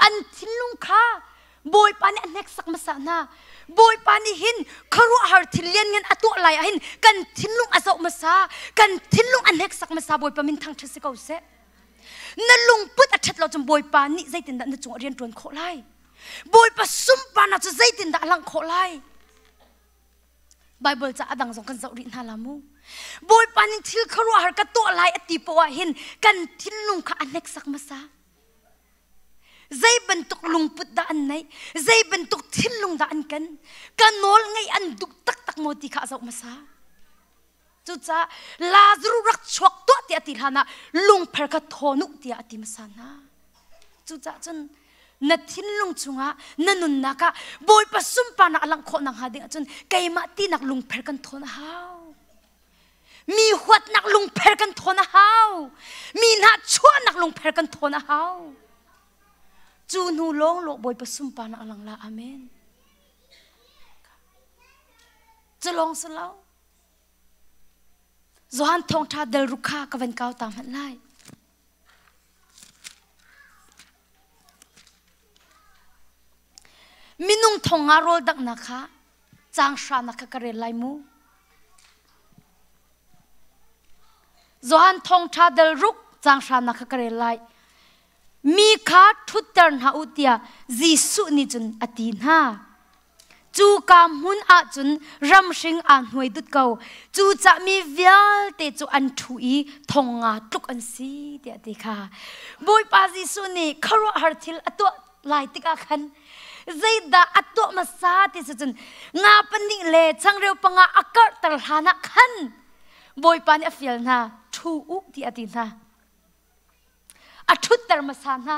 an thinlung kha bawipa nih a hneksak hmasa hna bawipa nih hin khuaruahhar thil lianngan a tuah lai ahhin kan thinlung a zoh hmasa kan thinlung a hneksak hmasa bawipa minthang ṭhat si ko seh na lungput a ṭhat lo cun bawipa nih zeitindah na cung ah rian ṭuan khawh lai bawipa sunparnak cu zeitindah a langh khawh lai Bible ca adang zong kan zoh rih hna la mu. Bawipa nih thil khuaruahhar ka tuah lai a ti poah hin kan thinlung kha a hneksak hmasa. Zei bantuk lungput dah an neih? Zei bantuk thinlung dah an kan? Ka nawl ngaih an duh taktak maw ti kha a zoh hmasa. Cucaah Lazarus rak chuak tuah tiah ti hlan ah lungphar kha thawn u tiah a ti hmasa hna. Cucaah cun na thinlung chungah na nunnak ah Bawipa sunparnak a langh khawh nak hnga dingah cun keimah tinak lungphar kan thawn a hau. Mi huatnak lungphar kan thawn a hau. Mi hna chuahnak lungphar kan thawn a hau. Cu hnu lawng lo Bawipa sunparnak a lang la. Amen. Culong si lo. Johan thawngṭha delruk kha ka van kau ta hmanh lai. Minung thong nga rawl daknak kha cang hranak kha ka rel lai mu. Johan thongṭha delruk cang hranak kha ka rel lai. Mi kha ṭhutter hna u tiah Jesuh nih cun a ti hna. Cuka hmun ah cun ramhring aa hnuai dut ko. Cucah mi vialte cu an ṭhu i thong nga tluk an si tiah a ti kha. Bawipa Jesuh nih khuaruahhar thil a tuah lai tikah khan zeidah a tuah hmasa ti cu cun nga pahnih le changreu panga a karhter hlanah khan Bawipa nih a fial hna, ṭhu u tiah a ti hna. a ṭhutter hmasa hna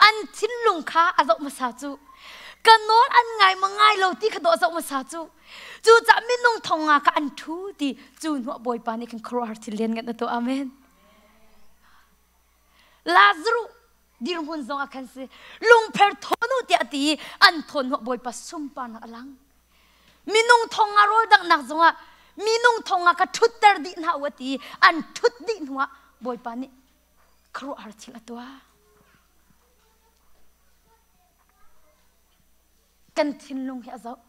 an thinlung kha a zoh hmasa cu ka nawl an ngai ma ngai lo ti kha daw a zoh hmasa cu cucah minung thong nga ka an ṭhu ti cu hnuah bawipa nih khan khuaruahhar thil lian kan tuah amen Lazaruh dirhmun zong ah khan si lungpher thonu tiah ti i an thawn hnuah bawipa sunparnak a lang minung thong ah rawldanghnak zongah minung thong ah ka ṭhutter dih hna u ti an ṭhut dih hnuah bawipa nih khuaruahhar thil a tuah kan thinlung hi a zoh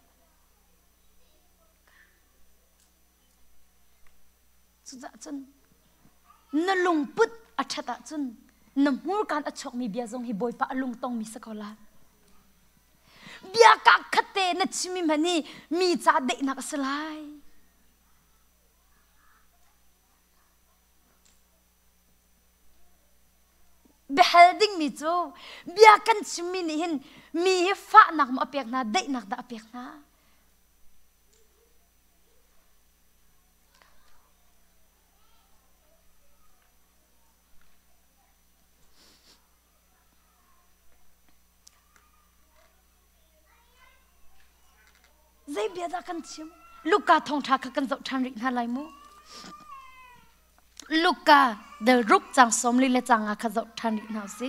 Cucah cun na lungput a ṭhat ahcun na hmurkan a chuakmi bia zong hi Bawipa a lung tongmi si ko lai. Bia ka khatte na chimmi hmanh hi mi ca deihnak a si lai. Biahal dingmi cu bia kan chimmi nih hin mi hi fahnak maw a pek hna, daihnak dah a pek hna? zei bia dah kan chim Luka thongtha kha kan zoh ṭhan rih hna lai mu Luka the ruk cang somli le canga kha zoh ṭhan rih hna si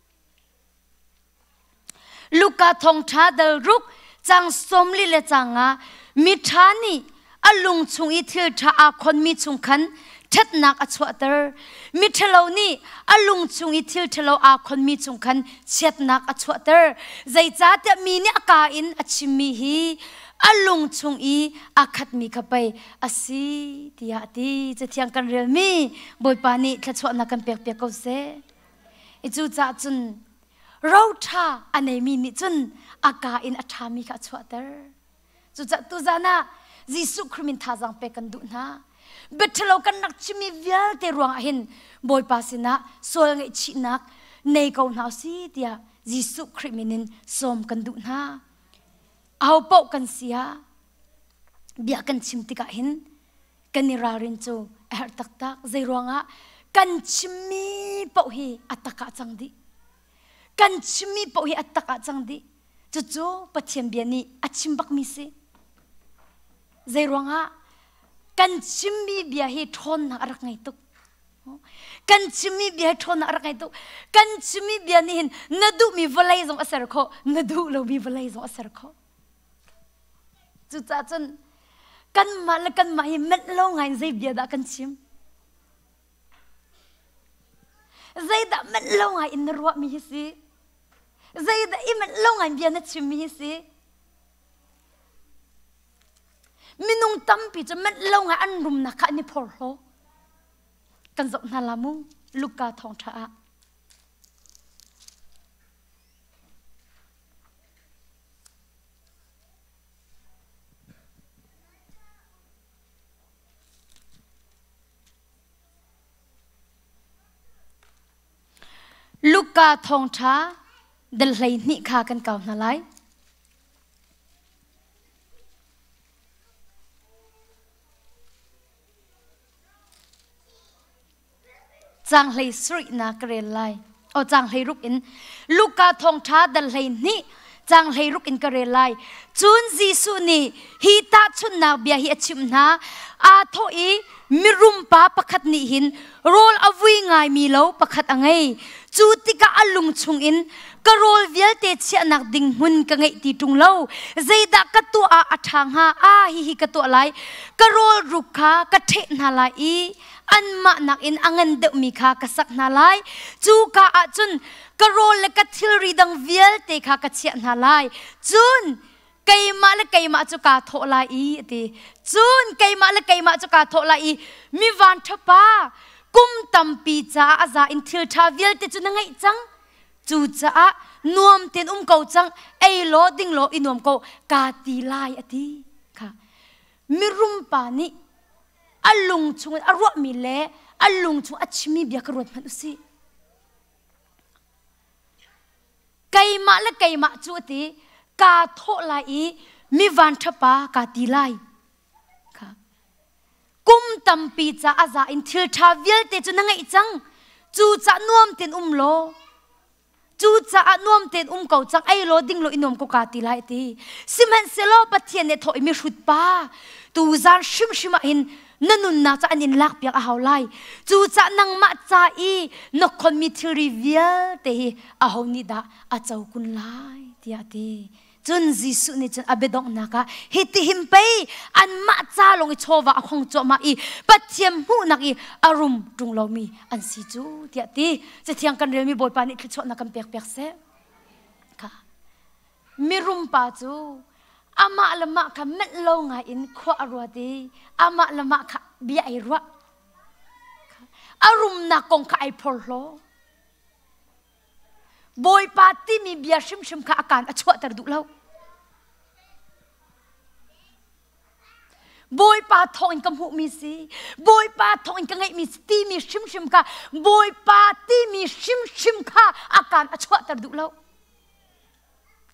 Luka thongtha dal ruk cang som li le canga miṭha nih a lung chung i thil ṭha aa khonmi chung khan ṭhatnak a chuahter. Miṭhalo nih a lung chung i thil ṭhalo aa khonmi chung khan chiatnak a chuahter. Zeicahtiah mi nih a kaa in a chimmi hi a lung chung i aa khatmi kha pei a si tiah a ti. Cathiang kan relmi Bawipa nih thluachuahnak kan pek piak ko seh. i cucaah cun roṭha a neimi nih cun a ka in a ṭhami kha a chuahter cucaah tuzan ah Jesuh Khrih min thazaang pek kan duh hna biaṭhalo kan rak chimmi vialte ruangah hin Bawipa sinah sual ngaihchihnak nei ko hna si tiah Jesuh Khrih min in sawm kan duh hna aho paoh kan si ah bia kan chim tikah hin kan i ralrin cu a herh taktak zei ruangah kan chimmi paoh hi a tak ah cang dih kan chimmi paoh hi a tak ah cang dih cucu pathian bia nih a chim bakmi si zei ruangah kan chimmi bia hi ṭhawnnak a rak ngei tuk kan chimmi bia hi ṭhawnnak a rak ngei tuk kan chimmi bia nih hin na duhmi vawlei zong a ser khawh na duh lomi vawlei zong a ser khawh Cucaah cun kanmah le kanmah i menh lo ngaiin zei bia dah kan chim? Zeidah menh lo ngai in na ruahmi hi si? Zeidah i menh lo ngaiin bia na chimmi hi si? Minung tampi cu menh lo ngai an rumnak kha an i phorhlaw. Kan zoh hna la mu, Luka thawngṭha ah. Luka thawngṭha dal hleihnih kha kan kau hna lai. cang hlei sarih na ka rel lai o cang hlei ruk in luka thongtha dal hlei ni cang hlei ruk in ka rel lai cun Jesuh nih hi tahchunnak bia hi a chim hna a tho i mirum pa pakhat nih hin rawl a vui ngai mi lo pakhat a ngei cu tikah a lung chung in ka rawl vialte chiahnak ding hmun ka ngeih ti tung lo zeidah ka tuah ah a ṭha hnga a hi hi ka tuah lai ka rawl ruk kha ka ṭheh hna lai i anmah nakin a ngan deuhmi kha ka sak hna lai cuka ah cun ka rawl le ka thilri dang vialte kha ka chiah hna lai cun keimah le keimah cu kaa thawh lai i a ti cun keimah le keimah cu kaa thawh lai i mi vanṭha pa kum tampi caah a za in thil ṭha vialte cu na ngeih cang cucaah nuam tein um ko cang ei law ding law i nuam ko kaa ti lai a ti kha mirum pa nih a lung chungin a ruahmi le a lung chung a chimmi bia ka ruat hmanh usih. Keimah le keimah cu a ti kaa thawh lai i mi vanṭha pa kaa ti lai. Kha. Kum tampi ca a za in thil ṭha vialte cu na ngeih cang. Cucah nuam tein um law Cucaah nuam tein um ko cang ei law ding lo i nuam ko ka ti lai ti. Sihmanhsehlaw Pathian nih thawh i mihrut pa tu zan hrimhrim ah hin na nunnak ca an in lak piak a hau lai. Cucaah nangmah ca i na khonmi thilri vialte hi aho nih dah a co kun lai tiah a ti. Cun Jesuh nih cun a biadonghnak ah hitihin pei anmah ca lawng i chawva a hong cuahmah i Pathian hmuhnak i a rum ṭung lomi an si cu tiah ti Cathiang kan relmi Bawipa nih thluachuahnak kan pekpiak seh. Kha mirum pa cu amah le mah kha melh lo ngai in khua a ruat i amah le mah kha bia ei ruah. A rumnak kong kha ai phorhlaw. Bawipa timi bia hrimhrim kha a kaan a chuahter duh lo. Bawipa thawngin ka hmuhmi si, Bawipa thawngin ka ngeihmi si timi hrimhrim kha Bawipa timi hrimhrim kha a kaan a chuahter duh lo.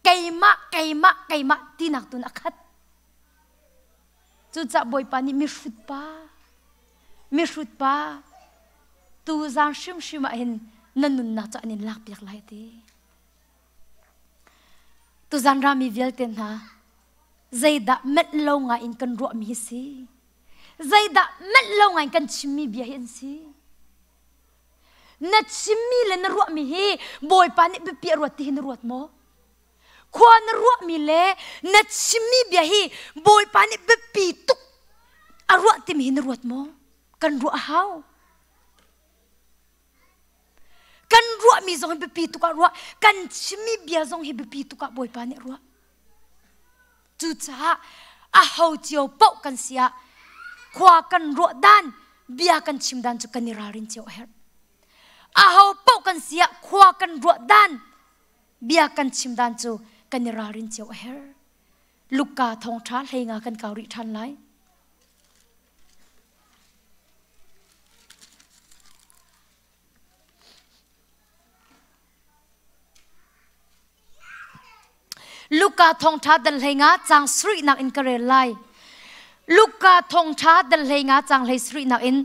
Keimah, keimah, keimah tinak tun a khat. Cucah Bawipa nih mihrut pa, mihrut pa, tu zan hrimhrim ah hin na nunnak cu an in lakpiak lai ti. Tuzan rami vialte hna, zeidah melh lo ngai in kan ruahmi hi si? Zeidah melh lo ngai in kan chimmi bia hi an si? Na chimmi le na ruahmi hi Bawipa nih biapiah ruat ti hi na ruat maw? khua na ruahmi le na chimmi bia hi bawipa nih biapi tuk a ruah timi hi na ruat maw kan ruah a hau kan ruahmi zong hi biapi tuk ah ruah kan chimmi bia zong hi biapi tuk ah bawipa nih ruah cucaah a ho cio poh kan si ah khua kan ruah dan bia kan chim dan cu kan i ralrin cio a herh a ho poh kan si ah khua kan ruah dan bia kan chim dan cu kan i ralrin cio a her luka thong tha hlenga kan kau rih than lai luka thongtha dal hlenga chang sri nak in ka rel lai luka thongtha dal hlenga chang hlei sri nak in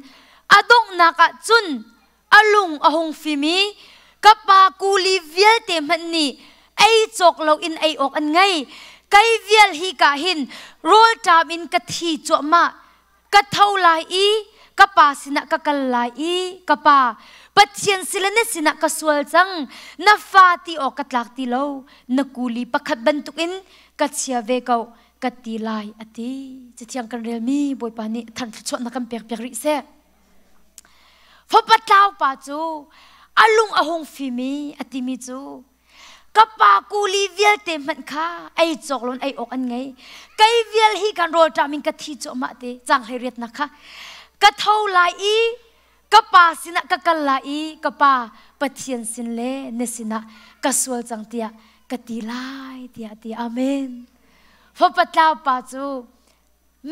adongnak ah cun a lung a hung fim i ka pa kuli vialte hmanh nih ei cawk loin ei awk an ngei kei vial hi ka hin rawlṭam in ka thi cuahmah ka tho lai i ka pa sinah ka kal lai i ka pa pathian sile na sinah ka sual cang na fa ti awk ka tlak ti lo na kuli pakhat bantukin ka chia ve ko ka ti lai a ti cathiang kan relmi bawipa nih thangthlachuah na kan pek piak rih seh Fapa tlaupa cu a lung a hung fimi a timi cu ka pa kuli vialte hmanh kha ei cawklon ei awk an ngei kei vial hi kan rawl ṭam in ka thi cuahmah te cang hlei riatnak kha ka tho lai i ka pa sinah ka kal lai i ka pa pathian sin le na sinah ka sual cang tiah ka ti lai tiah ti amen fapa tlaupa cu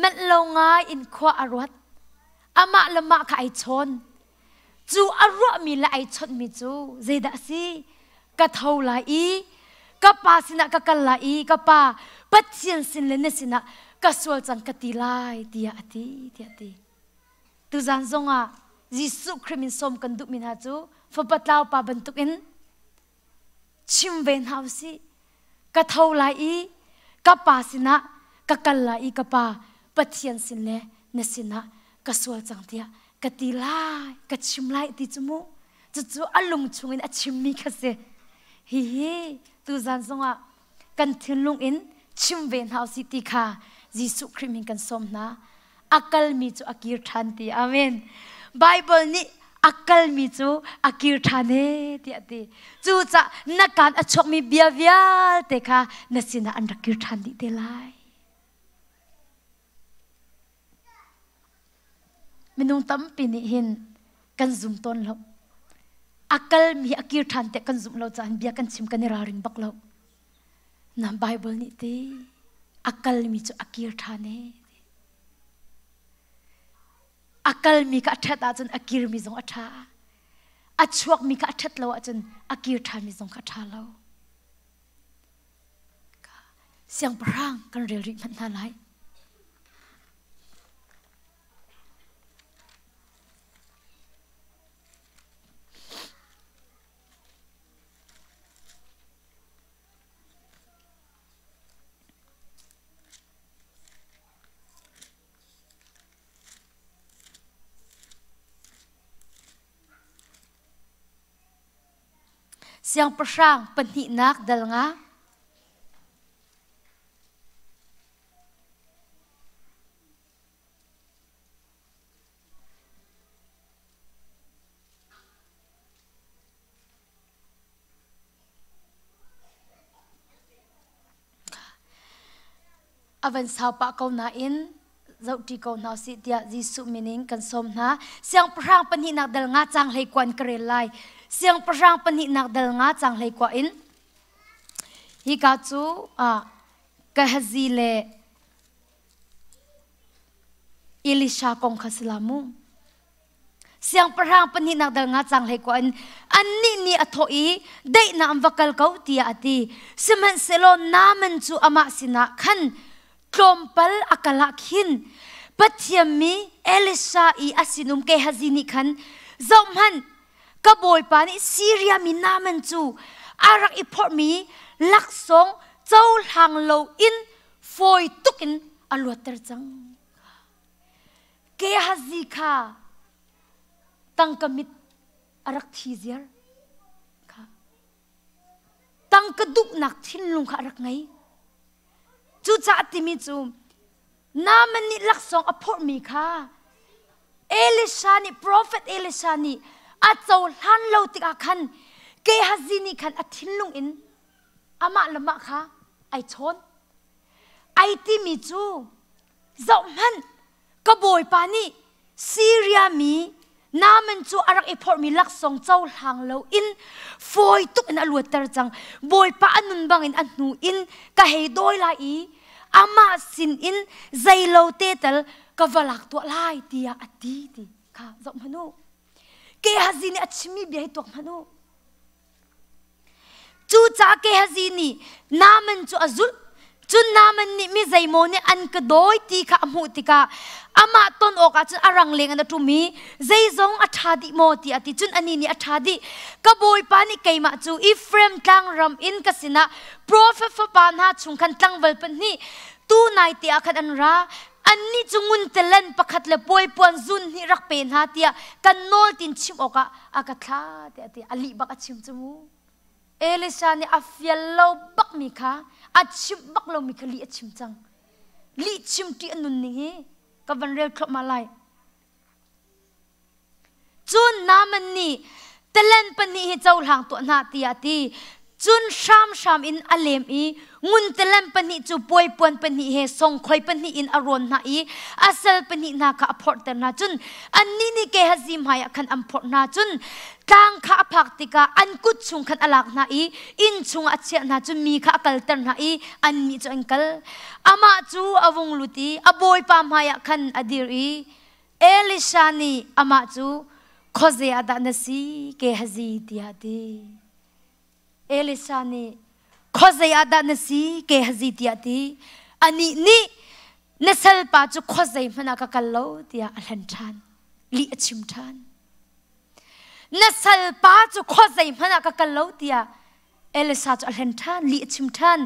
Manh lo ngai in khua a ruat. Amah le mah kha ai chawn. Cu a ruahmi le ai chawnhmi cu zeidah a si? Ka tho lai i ka pa sinah ka kal lai i ka pa Pathian sin le na sinah ka sual cang ka ti lai tiah a ti tiah a ti. Tuzan zongah Jesuh Khrih min sawm kan duhmi hna cu fapa tlaupa bantukin chim ve hna u sih ka tho lai i ka pa sinah ka kal lai i ka pa pathian sin le na sinah ka sual cang tiah ka ti lai ka chim lai ti cu mu cucu a lung chungin a chimmi kha si hihi tuzan zongah kan thinlung in chim ve hna u si ti kha Jesuh Khrih min kan sawm hna a kalmi cu a kir ṭhan ti amen Bible nih a kalmi cu a kir ṭhan e tiah ti cucah na kaan a chuakmi bia vialte kha na sinah an rak kir ṭhan dih te lai Minung tampi nih hin kan zum tawn lo. A kalmi a kir ṭhan tiah kan zumh lo caah bia kan chim kan i ralring bak lo. Na Baibal nih ti a kalmi cu a kir ṭhan e. A kalmi kha a ṭhat ahcun a kirmi zong a ṭha. A chuakmi kha a ṭhat lo ahcun a kir ṭhanmi zong kha a ṭha lo. Siangpahrang kan rel rih hmanh hna lai. Siangpahrang pahnihnak dal nga. avan sau pah ko nain zohṭi ko hna usih tiah Jesuh min in kan sawm hna. Siangpahrang pahnihnak dal nga cang hlei kuan ka rel lai. Siangpahrang pahnihnak dal nga cang hlei kwa in hika cu ah Gehazi le Elisha kong kha si la mu. siangpahrang pahnihnak dal nga cang hlei ko in annih nih a thawh i deihnaam va kal ko tiah a ti sihmanhsehlaw Naaman cu amah sinah khan tlawmpal a kal ah khin Pathian mi Elisha i a sinum Gehazi nih khan zohhmanh ka bawipa nih Siria mi Naaman cu a rak i phorhmi laksawng cohlang loin fawi tukin a luatter cang Gehazi kha tangka mit a rak thi ziar kha tangka duhnak thinlung kha a rak ngei cucaah timi cu Naaman nih laksawng a phurhmi kha Elisha nih profet Elisha nih a cohlan lo tikah khan Gehazi nih khan a thinlung in amah le mah kha ai chawn ai timi cu Zohhmanh, ka bawipa nih Siria mi Naaman cu a rak i phorhmi laksawng cohlang loin fawi tuk in a luatter cang. Bawipa a nun bangin a hnu in ka hei dawi lai i amah sinin zeilote tal ka va lak tuah lai tiah a ti ti kha zohhmanh u. Gehazi nih a chimmi bia hi tuak hmanh u. Cuca Gehazi nih Naaman cu a zulh. Cun Naaman nih mi zeimaw nih an ka dawi ti kha a hmuh tikah amah ton awkah cun a rangleng in a ṭum i zeizong a ṭha dih maw tiah a ti. Cun anih nih a ṭha dih. Ka bawipa nih keimah cu Efraim tlangram in ka sinah profet fapa hna chung khan tlangval pahnih tu naite ah khan an ra. annih cu nguntelen pakhat le puaipuan zun hnih rak pe hna tiah kan nawl tin chim awkah a ka thla tiah ti a lih bak a chim cu mu elisha nih a fial lo bak mi kha a chim bak lo mi kha lih a chim cang lih chim ṭi a nun ning hi ka van rel thluahmah lai cun Naman nih talen pahnih hi cohlang tuah hna tiah a ti cun hramhram in a lem i ngun talen pahnih cu puaipuan pahnih he songkhoi pahnih in a rawn hna i a sal pahnih hna kha a phorhter hna cun annih nih ke hazi hmaiah khan an phorh hna cun tlang kha a phak tikah an kut chung khan a lak hna i inn chungah a chiah hna cu mi kha a kalter hna i annih cu an kal amah cu a vung lut i a bawipa hmaiah khan a dir i Elisha nih amah cu khuazei ah dah na si Gehazi tiah a ti Elisa nih khuazei ah dah na si ke hazi tiah ti anih nih na salpa cu khuazei hmanh ah ka kal lo tiah a hlen ṭhan lih a chim ṭhan na salpa cu khuazei hmanh ah ka kal lo tiah Elisa cu a hlen ṭhan lih a chim ṭhan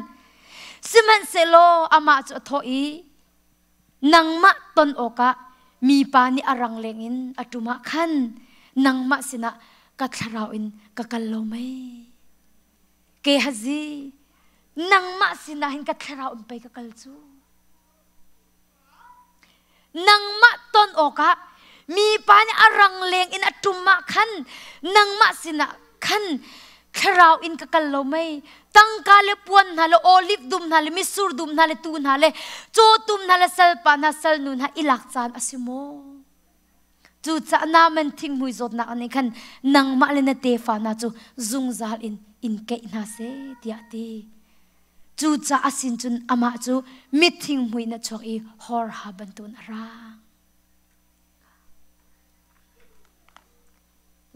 sihmanhsehlaw amah cu a thawh i nangmah ton awkah mipa nih a rang lengin a ṭum ah khan nangmah sinah ka thlarau in ka kal lo mei? Gehazi, nangmah sinah hin ka thlarau in pei ka kal cu. Nangmah ton awkah mipa nih a rangleng in a ṭum ah khan nangmah sinah khan thlarau in ka kal lo mei tangka le puan hna le oliv dum hna le misur dum hna le tu hna le cawtum hna le salpa hna salnu hna i lak caan a si maw cucaah naman thingmui zawtnak nih khan nangmah le na tefa hna cu zungzal in in keih hna seh tiah ti cucaah sin cun amah cu mithingmui na chuak i hor ha bantuan a ra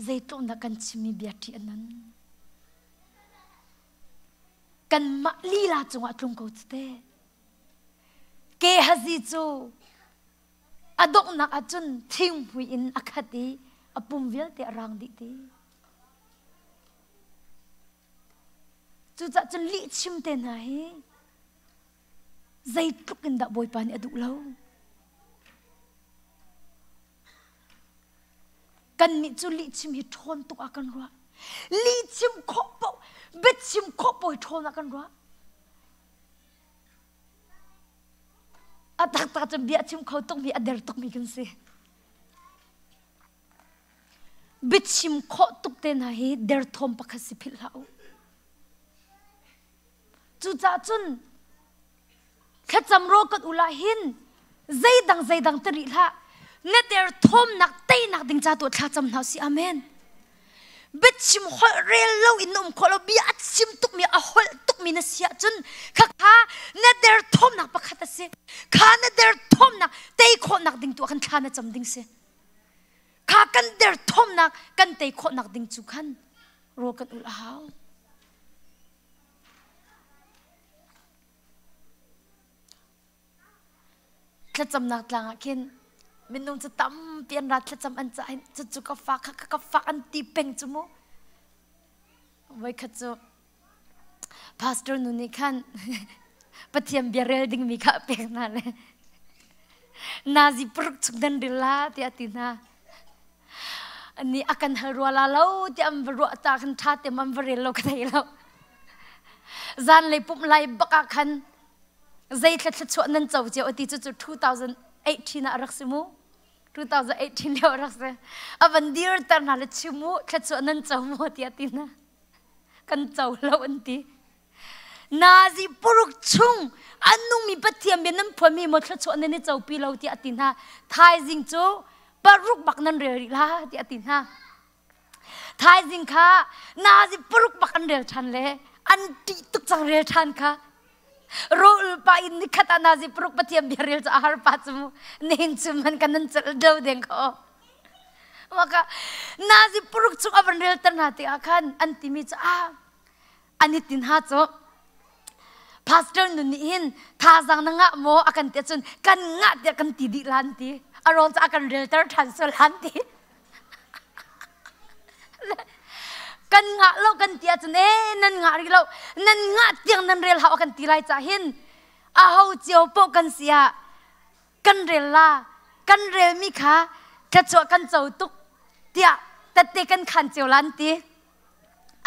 zeitluk na kan chimmi bia ṭih a nan kanmah lila cungah tlung ko cite ke hazi cu a donghnak ahcun thingpui in a khat i a pum vialte a rang dih ti cucah cun lih chimte hna hi zeitluk in dah bawipa nih a duh lo Kannih cu lihchim hi ṭhawn tuk ah kan ruah. Lihchim khawh paoh, biachim khawh paoh hi ṭhawn ah kan ruah. A taktak cun bia chim kho tukmi, a der tukmi kan si. Biachim khawh tuk te hna hi derthawm pakhat si philh hlah u. Cucaah cun thlacam raw kan ul ahhin zeidang zeidang te rih hlah neter thawmnak teinak ding ca tu thlacam hna si amen biachim holh rel lo in na um khawh lo bia a chim tukmi a holh tukmi na si ahcun khakha na der thawmnak pakhat a si kha na der thawmnak tei khawhnak ding tu ah khan thla na cam ding si kha kan derthawmnak kan tei khawhnak ding cu khan rawl kan ul a hau thlacamnak tlang ah khin minung cu tampi an ra thlacam an cah cu cu ka fa kha ka fa an ti peng cu mu voikhat cu Pastor nu nih khan Pathian bia rel dingmi kha a pek hna le nazi paruk chung dan ril la tiah a ti hna. Ni a kan hal rua la lo tiah an va ruah ta kan ṭha te man va rel lo ka thei lo. Zan lei pumh lai bak ah khan zei thlatthla chuah nan co cio ti cu cu 2018 ah rak si mu. 2018 lio rak si. A van dir ter hna le chimu thlatsuah nan co mu tiah ti hna. kan cohlo an ti nazi puruk chung an nungmi pathian bian nan phuami mo thluachuah nan i copi lo tiah ati hna thaizing cu paruk bak nan rel rih la tiah ati hna thaizing kha nazi paruk bak an rel ṭhan le an ṭih tuk cang rel ṭhan kha Rol pa in nikhat anazi paruk pathian bia ril cu a har pa cu nihin cu man kan nan cel do deng ko. Maka nazi puruk cu a van ril ter hna te ah khan an timi cu a ani tin ha cu pastor nun nih hin thazang na ngah maw a kan te cun kan ngah tiah kan ti dih lan ti a ron cu a kan ril ter than so lan ti kan ngah lo kan ti ahcun ee nan ngah rih lo nan ngah tiang nan rel hau a kan ti lai cah hin aho cio poh kan si ah kan rel la kan relmi kha thluachuah kan co tuk tiah tette kan khan cio la an ti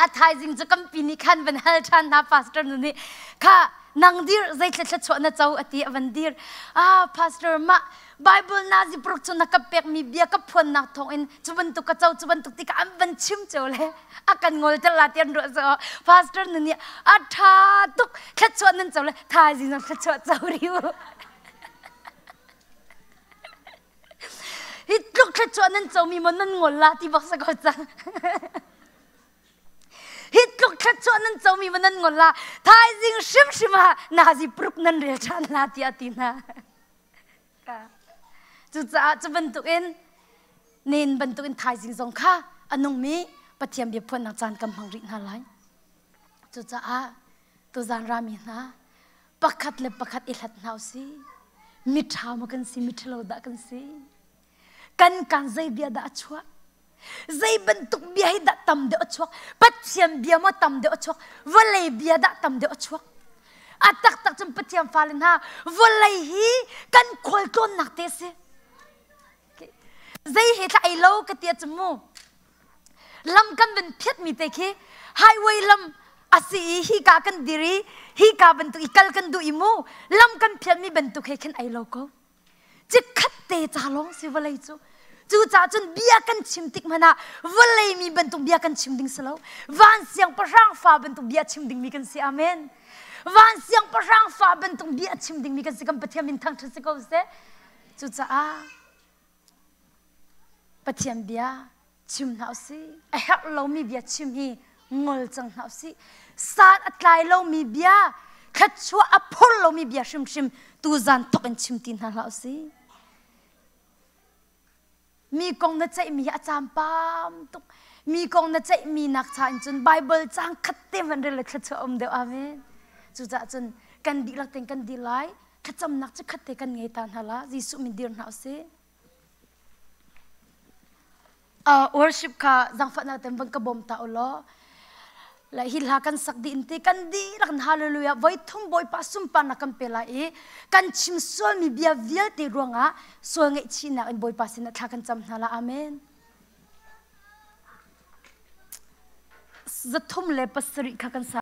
a thaizing cu kampi ni khan van hal ṭhan hna pastor nu nih kha nang dir zeitlai thluachuah na co a ti a van dir ah pastor mah bible nazi paruk cu na ka pekmi bia ka phuannak thawngin cu bantuk ka co cu bantuk ti ka an van chim cio le a kan ngol tel la ti an ruah so pastor nu nih a ṭha tuk thluachuah nan co le thaizing nan thluachuah co rih u hi tluk thlet cu nan co mi maw nan ngol la ti bak sa ko cang hi tluk thlet cu nan co mi maw nan ngol la thaizing hrim hrim ah nazi prup nan rel ṭhan la tiah ti hna cucaah cu bantuk in nen bantuk in thaizing zong kha a nungmi pathian bia phuannak caan kan hmang rih hna lai cucaah tuzan rami hna pakhat le pakhat i hlat hna si miṭha ma kan si miṭhalo dah kan si kan kan zei bia dah a chuah zei bantuk bia hi dah tam deuh a chuak pathian bia maw tam deuh a chuak vawlei bia dah tam deuh a chuak a taktak cun pathian fale hna vawlei hi kan khual tlawnnak te si zei he tla ei lo ka tia cu mu lam kan van phiatmi te khi highway lam asi i hika kan dir i hika bantuk i kal kan duh i mu lam kan phialmi bantuk he khin ai lo ko cikhat te ca lawng si vawlei cu cucaah cun bia kan chim tik hmanh ah vawlei mi bantuk bia kan chim ding si lo van siangpahrang fa bantuk bia chim dingmi kan si amen van siangpahrang fa bantuk bia chim dingmi kan si kan pathian min thangṭhat si ko seh cucaah Pathian bia chim hna usih. A herh lomi bia chim hi ngol cang hna usih. San a tlai lomi bia, thluachuah a phur lomi bia hrimhrim tu zan thok in chim ti hna hlah usih. Mi kong na ceihmi hi a campam tuk. Mi kong na ceihmi nak cha in cun Bible cang khat te hman ril le thluachuah um deuh. Amen. Cucaah cun kan dihlak ten kan dil lai. Thlacamnak cu khat te kan ngei ta hna la Jesuh min dir hna usih. Uh, worship ka zangfahnak ten bang ka bom ta ulo. La hi hla kan sak di inti kan di rak hallelujah voi thum boi pa sumpar na kan pe lai i kan chim sual mi bia vialte ruangah sual ngeih chi nak in boipa sin thla kan cam hna la amen. Zathum le pasarih kha kan sa